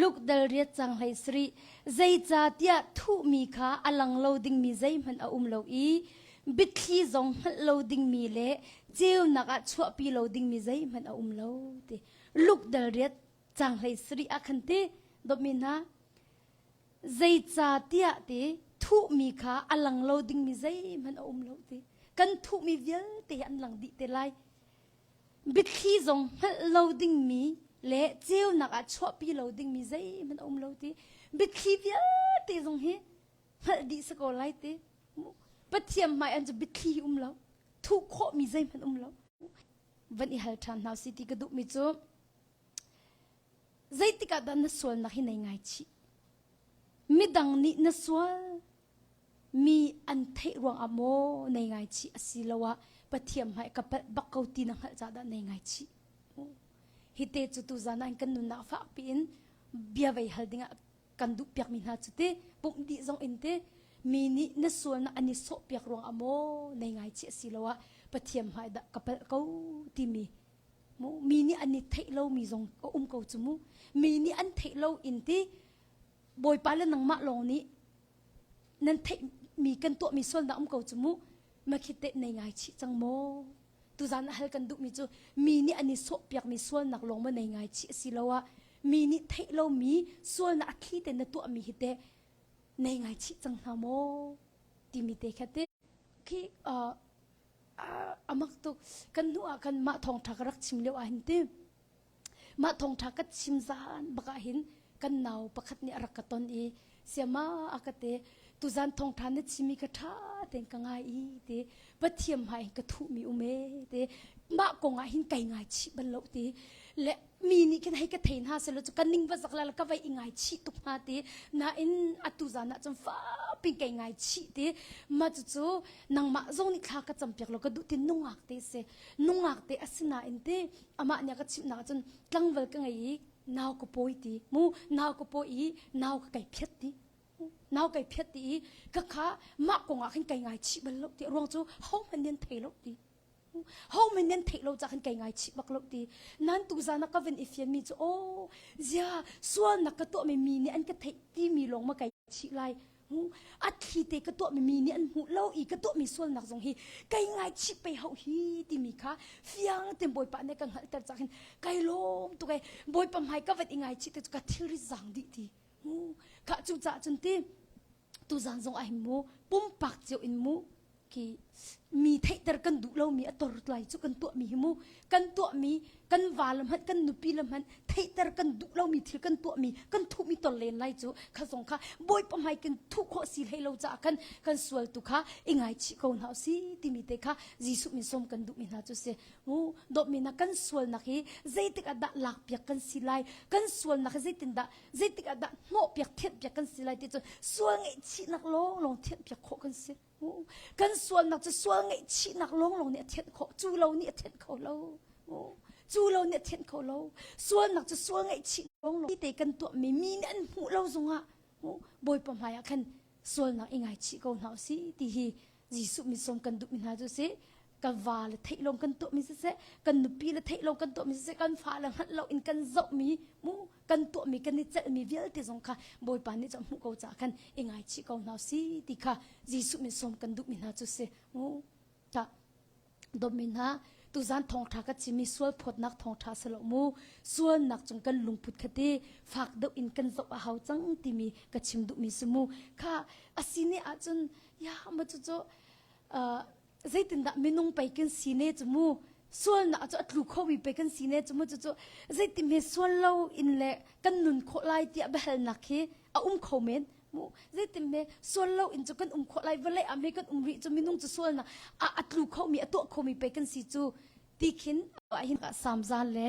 Lukdal riat cang hlei sarih, zeicahtiah thuhmi kha a lang lo dingmi zeihmanh a um lo i biathli zong hngalh lo dingmi le ceunak ah chuahpi lo dingmi zeihmanh a um lo, ti. Lukdal riat cang hlei sarih ah khan ti, dawpmi hna, zeicahtiah ti thuhmi kha a lang lo dingmi zeihmanh a um lo ti. Kan thuhmi vialte an lang dih te lai. Biathli zong hngalh lo dingmi le ceunak ah chuahpi lo dingmi zeihmanh a um lo ti biathli vialte zong hi hngalh dih si ko lai ti pathian hmai an cu biathli hi um lo thuh khawhmi zeihmanh um lo van i hal ṭhan hna si ti ka duhmi cu zeitikah dah na sualnak hi nei ngai chih midang nih na sual Mi an theih ruangah maw nei ngaichih asiloah Pathian hmai ka palh bak ko ti na hngalh caah dah nei ngaichih. Hite cu tuzan ah kan nunnak fak piin bia vei hal dingah kan duh piakmi hna cu ti pumh dih zong in ti mi nih na sualnak an i sawh piak ruangah maw nei ngaichih asiloah Pathian hmai dah ka palh ko timi mu mi nih an i theih lomi zong a um ko cu mu mi nih an theih lo in ti Bawipa le nangmah lawng nih nan theihmi kan tuahmi sualnak um ko cu mu makhite nei ngai chih cang maw tuzan a hal kan duhmi cu mi nih an i sawhpiakmi sualnak lawng maw nei ngai chih asi lo ah mi nih theih lomi sualnak a thli te na tuahmi hi te nei ngai chih cang hna maw timi te kha te khi uh, uh, amak tuk kan nu ah kan mah thong tha ka rak chim leo ah hin ti Mah thongṭha ka chim zan bak ahhin kan nau pakhat nih a rak ka ton i siama a ka te tuzan thongṭha na chim i ka ṭha tein ka ngai i ti pathiam hmai in ka thuhmi um e ti mah kong ah hin kai ngaichih bal lo ti le mi nih khin hei ka thei hna sehlaw cu ka ning va zak la la ka vai i ngaichih tuk hnga ti nain atu zan ah cun fap in kai ngaichih ti mah cucu nangmah zong nih thla ka cam piak law ka duh ti nungak te a si nungak te a si nain ti amah nih a ka chimhnak cun tlangval ka ngei i nau ka pawi ti mu nau ka pawi i nau ka kai phiat ti nau kai phiat ti i ka kha mah kong ah khin kai ngai chih bal lo ti ruang cu hohmanh nin thei lo ti hohmanh nin theih lo cah khan kai ngai chih bak lo ti nan tu zan ka vin i fian mi cu o zia sual nak ka tuah mi mi nih an ka theih ti mi lawng ma kai chih lai a thi te ka tuahmi mi nih an hmuh lo i ka tuahmi sualnak zong hi kai ngaichih pei hau hi timi kha fiang tein bawipa nih ka hngalhter cak hin kai lawm tuk ai bawipa hmai ka vat i ngaichih te cu ka thilri zang dih ti khah cu caah cun ti tuzan zong ah hin mu pumpak cio in mu ki mi theihter kan duh lomi a tor lai cu kan tuahmi hi mu kan tuahmi kan val la hmanh kan nupi la hmanh theihter kan duh lomi thil kan tuahmi kan thuhmi ton len lai cu kha zong kha bawipa hmai kan thuh khawh si hlei lo caah khan kan sual tu kha i ngaichih ko hna u si timi te kha Jesuh min som kan duhmi hna cu si mu dawtmi na kan sualnak hi zeitik ah dah lak piak kan si lai kan sualnak hi zeitin dah zeitik ah dah hnawh piak thianh piak kan si lai ti cu sual ngeih chihnak lawnglawng thianh piak khawh kan si kan sualnak cu sual ngaihchihnak lawnglawng nih a thenh kho cu lo nih a thenh kho lo cu lo nih a thenh kho lo sualnak cu sual ngaihchih lawnglawng te kan tuahmi mi nih an hmuh lo zongah bawipa hmaiah khan sualnak i ngaichih ko hna usih ti hi Jesuh misom kan duhmi hna cu si ka va le theih lawng kan tuahmi siseh kan nupi le theih lawng kan tuahmi siseh kan fa le hngalh lo in kan zohmi mu kan tuahmi kan i celhmi vialte zong kha Bawipa nih cun hmuh ko caah khan i ngaichih ko hna si ti kha Jesuh min sawm kan duhmi hna cu si u ta dawmi hna tuzan thawngtha ka chimi sual phawtnak thawngtha salo mu sualnak cung kan lungput khati fak deuh in kan zoh a hau cang timi ka chim duhmi si mu kha asini ahcun ya ma cu cu zeitindah minung pei kan si ne cu mu sualnak cu a tlu khomi pe kan si ne cu mu cucu zeiti me sual lo in le kan nun khawh lai tiah behalnak hi a um kho men mu zeitin me sual lo in cu kan um khawh lai vale a me kan um rih cu minung cu sualnak a atlu khomi a tuah khomi pe kan si cu ti khin a hin ka samzan le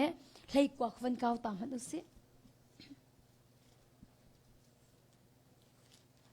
hlei kuak van kau ta man usi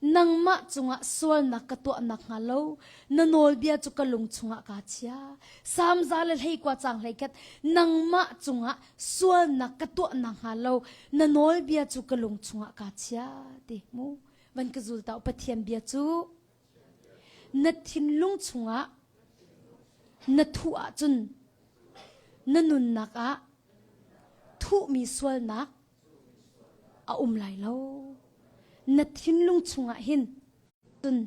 Nangmah cungah sualnak ka tuah nakhnga lo na nawlbia cu ka lung chungah kaa chia. Salmza le hleikua cang hleiket nangmah cungah sualnak ka tuah nakhnga lo na nawlbia cu ka lung chungah kaa chia ti mu. Van ka zul ta u Pathian bia cu na thinlung chungah na thu ahcun na nunnak ah thuhmi sualnak A um lai lo. Na thinlung chungah hin cun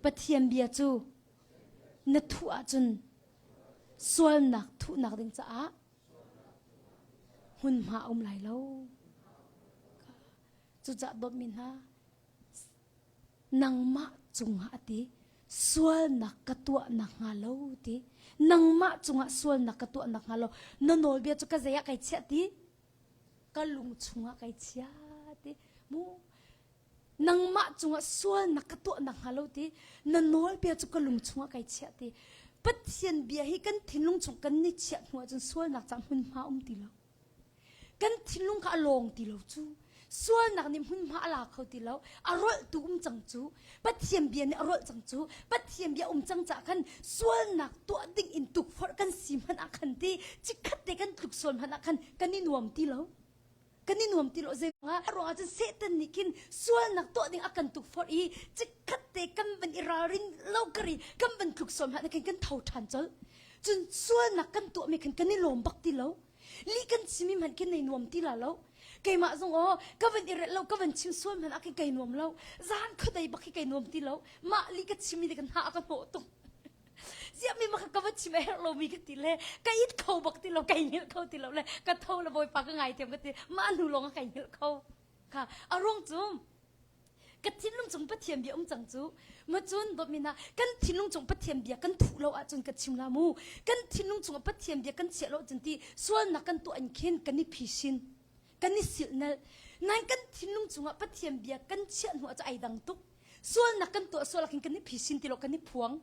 Pathian bia cu na thuh ahcun sualnak thuhnak ding caah hmunhma a um lai lo. Cucaah bawmmi hna, nangmah cungah ti sualnak ka tuah nakhnga lo ti nangmah cungah sualnak ka tuah nakhnga lo na nawlbia cu ka zei ah kai chiah ti ka lung chungah kai chiah ti mu nangmah cungah sualnak ka tuah nakhnga lo ti na nawlbia cu ka lung chungah kai chiah ti Pathian bia hi kan thinlung chung kan ni chiah hnu ahcun sualnak cang hmunhma um ti lo Kan thinlung kha a lawng ti lo cu. Sualnak nih hmunhma a la kho ti lo. A rolh tu um cang cu. Pathian bia nih a rolh cang cu. Pathian bia um cang caah khan sualnak tuah ding in tukforh kan si hmanh ah khan ti chikkhat te kan tluk sual hmanh ah khan kan i nuam ti lo. Kan i nuam ti lo zeicah? A ruang ah cun Satan nih khin sualnak tuah ding a kan tukforh i chikkhat te kan van i ralrin lo kar i kan van tluk sual hmanh ah khin kan tho ṭhan colh. Cun sualnak kan tuahmi khan kan i lawm bak ti lo. Lih kan chimmi hmanh kan nei nuam ti la lo. Keimah zong aw ka van i relh lo ka van chim sual hmanh ah khin kai nuam lo. Zan khuadei bak hi kai nuam ti lo. Mah lih ka chimmi nih kan hna a ka hnawh tung. Ziahmi mah ka van chim a herh lomi ka ti le ka it kho bak ti lo kai hngilh kho ti lo le ka tho le bawipa ka ngai thiam ka ti mah hnu lawng a kai hngilh kho. Kha a ruang cu ka thinlung cung pathian bia um cang cu ma cun dawmin ah kan thinlung cung pathian bia kan thuh lo ahcun ka chim la mu kan thinlung cung pathian bia kan chiah lo cun ti sualnak kan tuah in khin kan i phishin kan i silnal nain kan thinlung cungah pathian bia kan chiah hnu ah ai dang tuk sualnak kan tuah sualak in kan i phishin tilo kan i phuang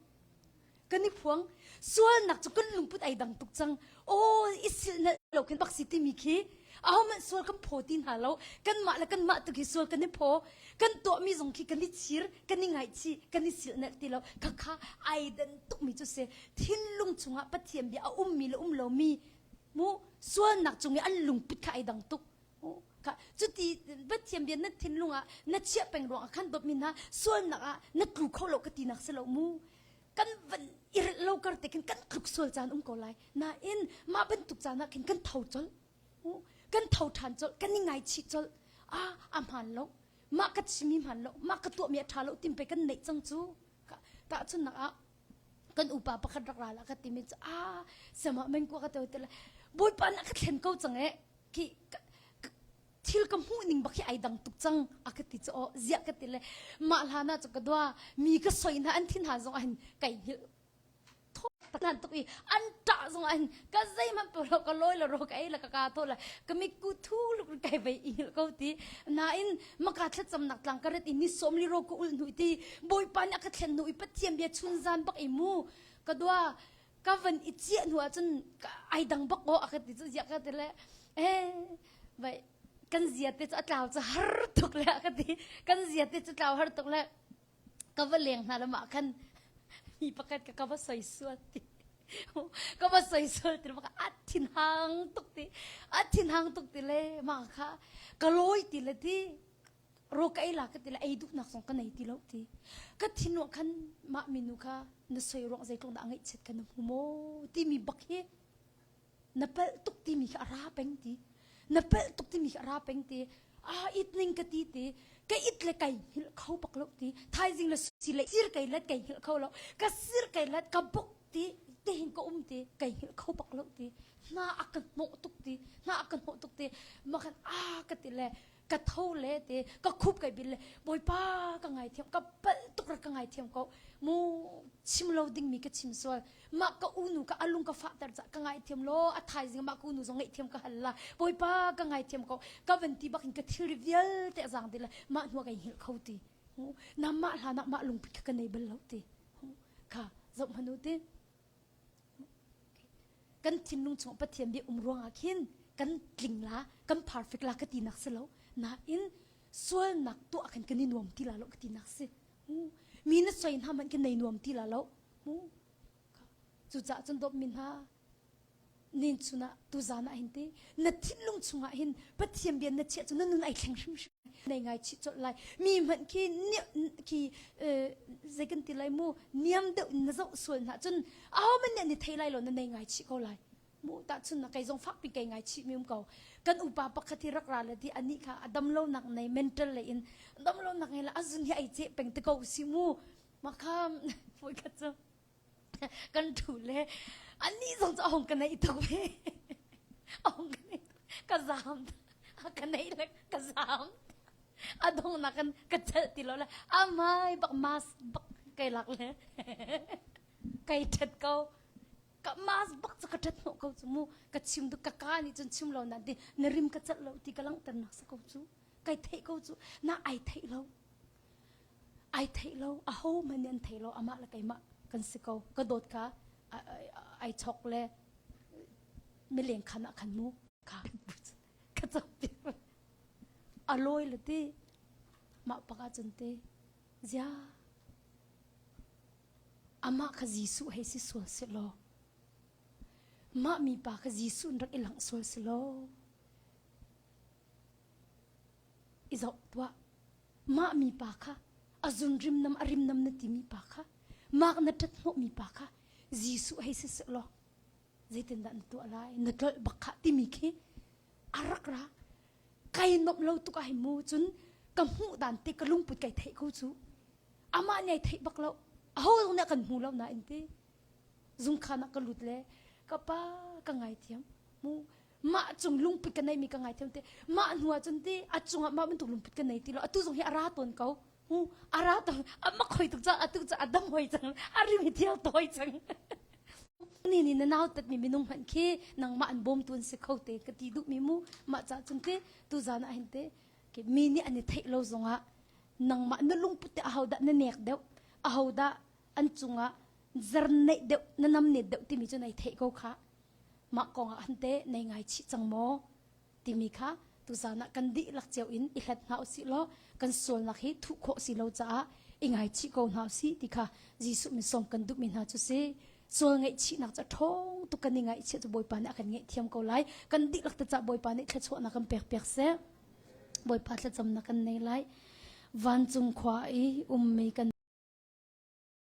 kan i phuang sualnak cu kan lungput ai dang tuk cang aw i sil na lo kan baksi timi khi ahohmanh sual kan phaw ti hna lo kanmah le kanmah tu khi sual kan i phaw kan tuahmi zong khi kan i chir kan i ngaichi kan i sil nalh ti lo khakha ai dan tukmi cu se thinlung chungah pathian bia a ummi le um lomi mu sualnak cung i an lungput kha ai dang tuk ka cuti pathian bia na thinlung ah na chiah peng ruang ah khan dawtmi hna sualnak ah na tlu kho lo ka ti nak si lo mu kan van i rilh lo kar te khin kan tluk sual caan um ko lai nain mah bantuk caan ah khin kan tho colh kan tho ṭhan colh kan i ngaichih colh ah a hmaan lo mah ka chimi hmaan lo mah ka tuahmi a ṭha lo tim pei kan neih cang cu tahchun nak ah kan upa pakhat rak ral ah ka timi cu a sama mengkua ka teo te la bawipa na ka thlen ko cang e ki thil ka hmuh ning bak hi ai dang tuk cang a ka ti cu aw ziah ka ti le mah hlan ah cu ka dua mi ka soi hna an thin hna zong ahin kai hil tho tan tuk i an ta zong ahin ka zei man pe lo ka loi la ro ka ei la ka ka tho la ka mi ku thu luk kai vai ingil ko ti nain maka thlacam nak tlang ka ret i ni som li ro ko ul nu ti boipa ni aka thlen nu i pathiam bia chun zan bak i mu ka dua ka van i ciah hnu ahcun ai dang bak aw a ka ti cu ziah ka ti le eh vai kan zia te cu a tlau cu har tuk le a ka ti kan zia te cu tlau har tuk le ka va leng hna lamah khan mi pakhat ka ka va soi sual ti ka va soi sual ti maka a thin hang tuk ti a thin hang tuk ti le ma kha ka lawi ti le ti ro ka ei la ka ti le ei duhnak zong ka nei ti lo ti ka thinwa khan mah minu kha na soi ruang zeitluk dah ngaihchiat ka na hmu maw timi bak hi na palh tuk timi kha a ra peng ti na palh tuk timi kha a ra peng ti a it ning ka ti ti ka it le kai hil kho bak lo ti thaizing le si le sir kai let kai hil kho lo ka sir kai let ka bok ti te hin ka um ti kai hil kho bak lo ti hna a ka hnawh tuk ti hna a ka hnawh tuk ti makhan a ka ti le ka tho le te ka khup kai bil le bawipa ka ngai thiam ka bal tuk ra ka ngai thiam ko mu chim lo ding mi ka chim sual ma ka unu ka alung ka fahter ca ka ngai thiam lo a thai zing ma ka unu zong ngai thiam ka hal la bawipa ka ngai thiam ko ka van ti bak in ka thil vial te zang de la ma hnu kai hil kho ti na ma hla na ma lung pik ka nei bal lo ti ka zo hanu ti kan thinlung chungah pathian bia um ruangah khin kan tling la kan perfect la ka ti nak si lo nain sualnak tuah khin kan i nuam ti la lo ka ti nak si mi na soi hna man kan nei nuam ti la lo mu cucaah cun dawp min ha Nincun ah tuzan ah hin ti na thinlung chungah hin Pathian bia na chiah cu na nun ai thleng hrimhrim nei ngai chih cawlh lai mi hmanh khi khi zei kan ti lai mu niam deuh na zoh sual hna cun a homan nih ni thei lai lo na nei ngai chih ko lai mu ta chun na kai zong fak pi kai ngai chih mium ko kan upa pakhat hi rak ra la di ani kha a damlo nak nei mental le in damlo nak nei la azun hi ai che peng te ko si mu ma kham foi khat chu kan ṭhu le anih zong cu a hong ka neih tuk ve a hong ka neih ka zaam a ka neih le ka zaam a donghnak in ka celh ti lo le a mai bak mas bak kai lak le kai ṭhet ko ka mas bak cu ka ṭhet hnawh ko cu mu ka chim tu ka ka nih cun chim lo na ti na rim ka celh lo ti ka langhter nak sa ko cu kai theih ko cu na ai theih lo ai thei lo ahohmanh nih an thei lo amah le keimah kan si ko ka dawtka ai chok le mileng khan ah khan mu ka ka chokpi a lawi le ti mah pakah cun ti zia amah kha Jesuh hei si sual si law mah mi pa kha Jesuh in rak i langh sual si law i zoh tuah. Mah mipa kha a zun rimnam a rimnam na timi pa kha mak na ṭat hnawhmi pa kha Jesuh hei si seh law zeitindah na tuah lai na tlolh bak khah timi khi a rak ra kai nuamh lo tuk ah hei mu cun ka hmuh dan te ka lungput kai theih ko cu amah nih ai theih bak lo aho zong nih kan hmu lo nain ti zungkhan ah ka lut le ka pa ka ngaithiam mu mah cung lungput kan neimi ka ngai theu te mah hnu ahcun ti a cungah mah bantuk lungput kan nei ti lo atu zong hi a ra tawn ko hu a ra tawn a mak hoi tuk ca atu ca a dam hoi cang a rim hi thial toi cang ni ni na nau tat mi minung hman khi nangmah an bawm tun si kho te ka ti duh mi mu mah ca cun ti tu zan ah hin te ke mi nih an i theih lo zongah nangmah na lungput te ahodah na nek deuh ahodah an cungah zar neih deuh na nam ne deuh timi cu nei thei ko kha mah kongah han te nei ngai chih cang maw timi kha tuzan ah kan dihlak cio in i hlat hna usih law kan sualnak hi thuh khawh si lo caah i ngai chih ko hna usih ti kha Jesuh min sawm kan duhmi hna cu si sual ngaih chihnak cu ṭhawng tu kan i ngaih chiah cu Bawipa nih a kan ngaih thiam ko lai kan dihlak te cah Bawipa nih thluachuahnak kan pek pek seh Bawipa thlacamnak kan nei lai vancung khua i ummi kan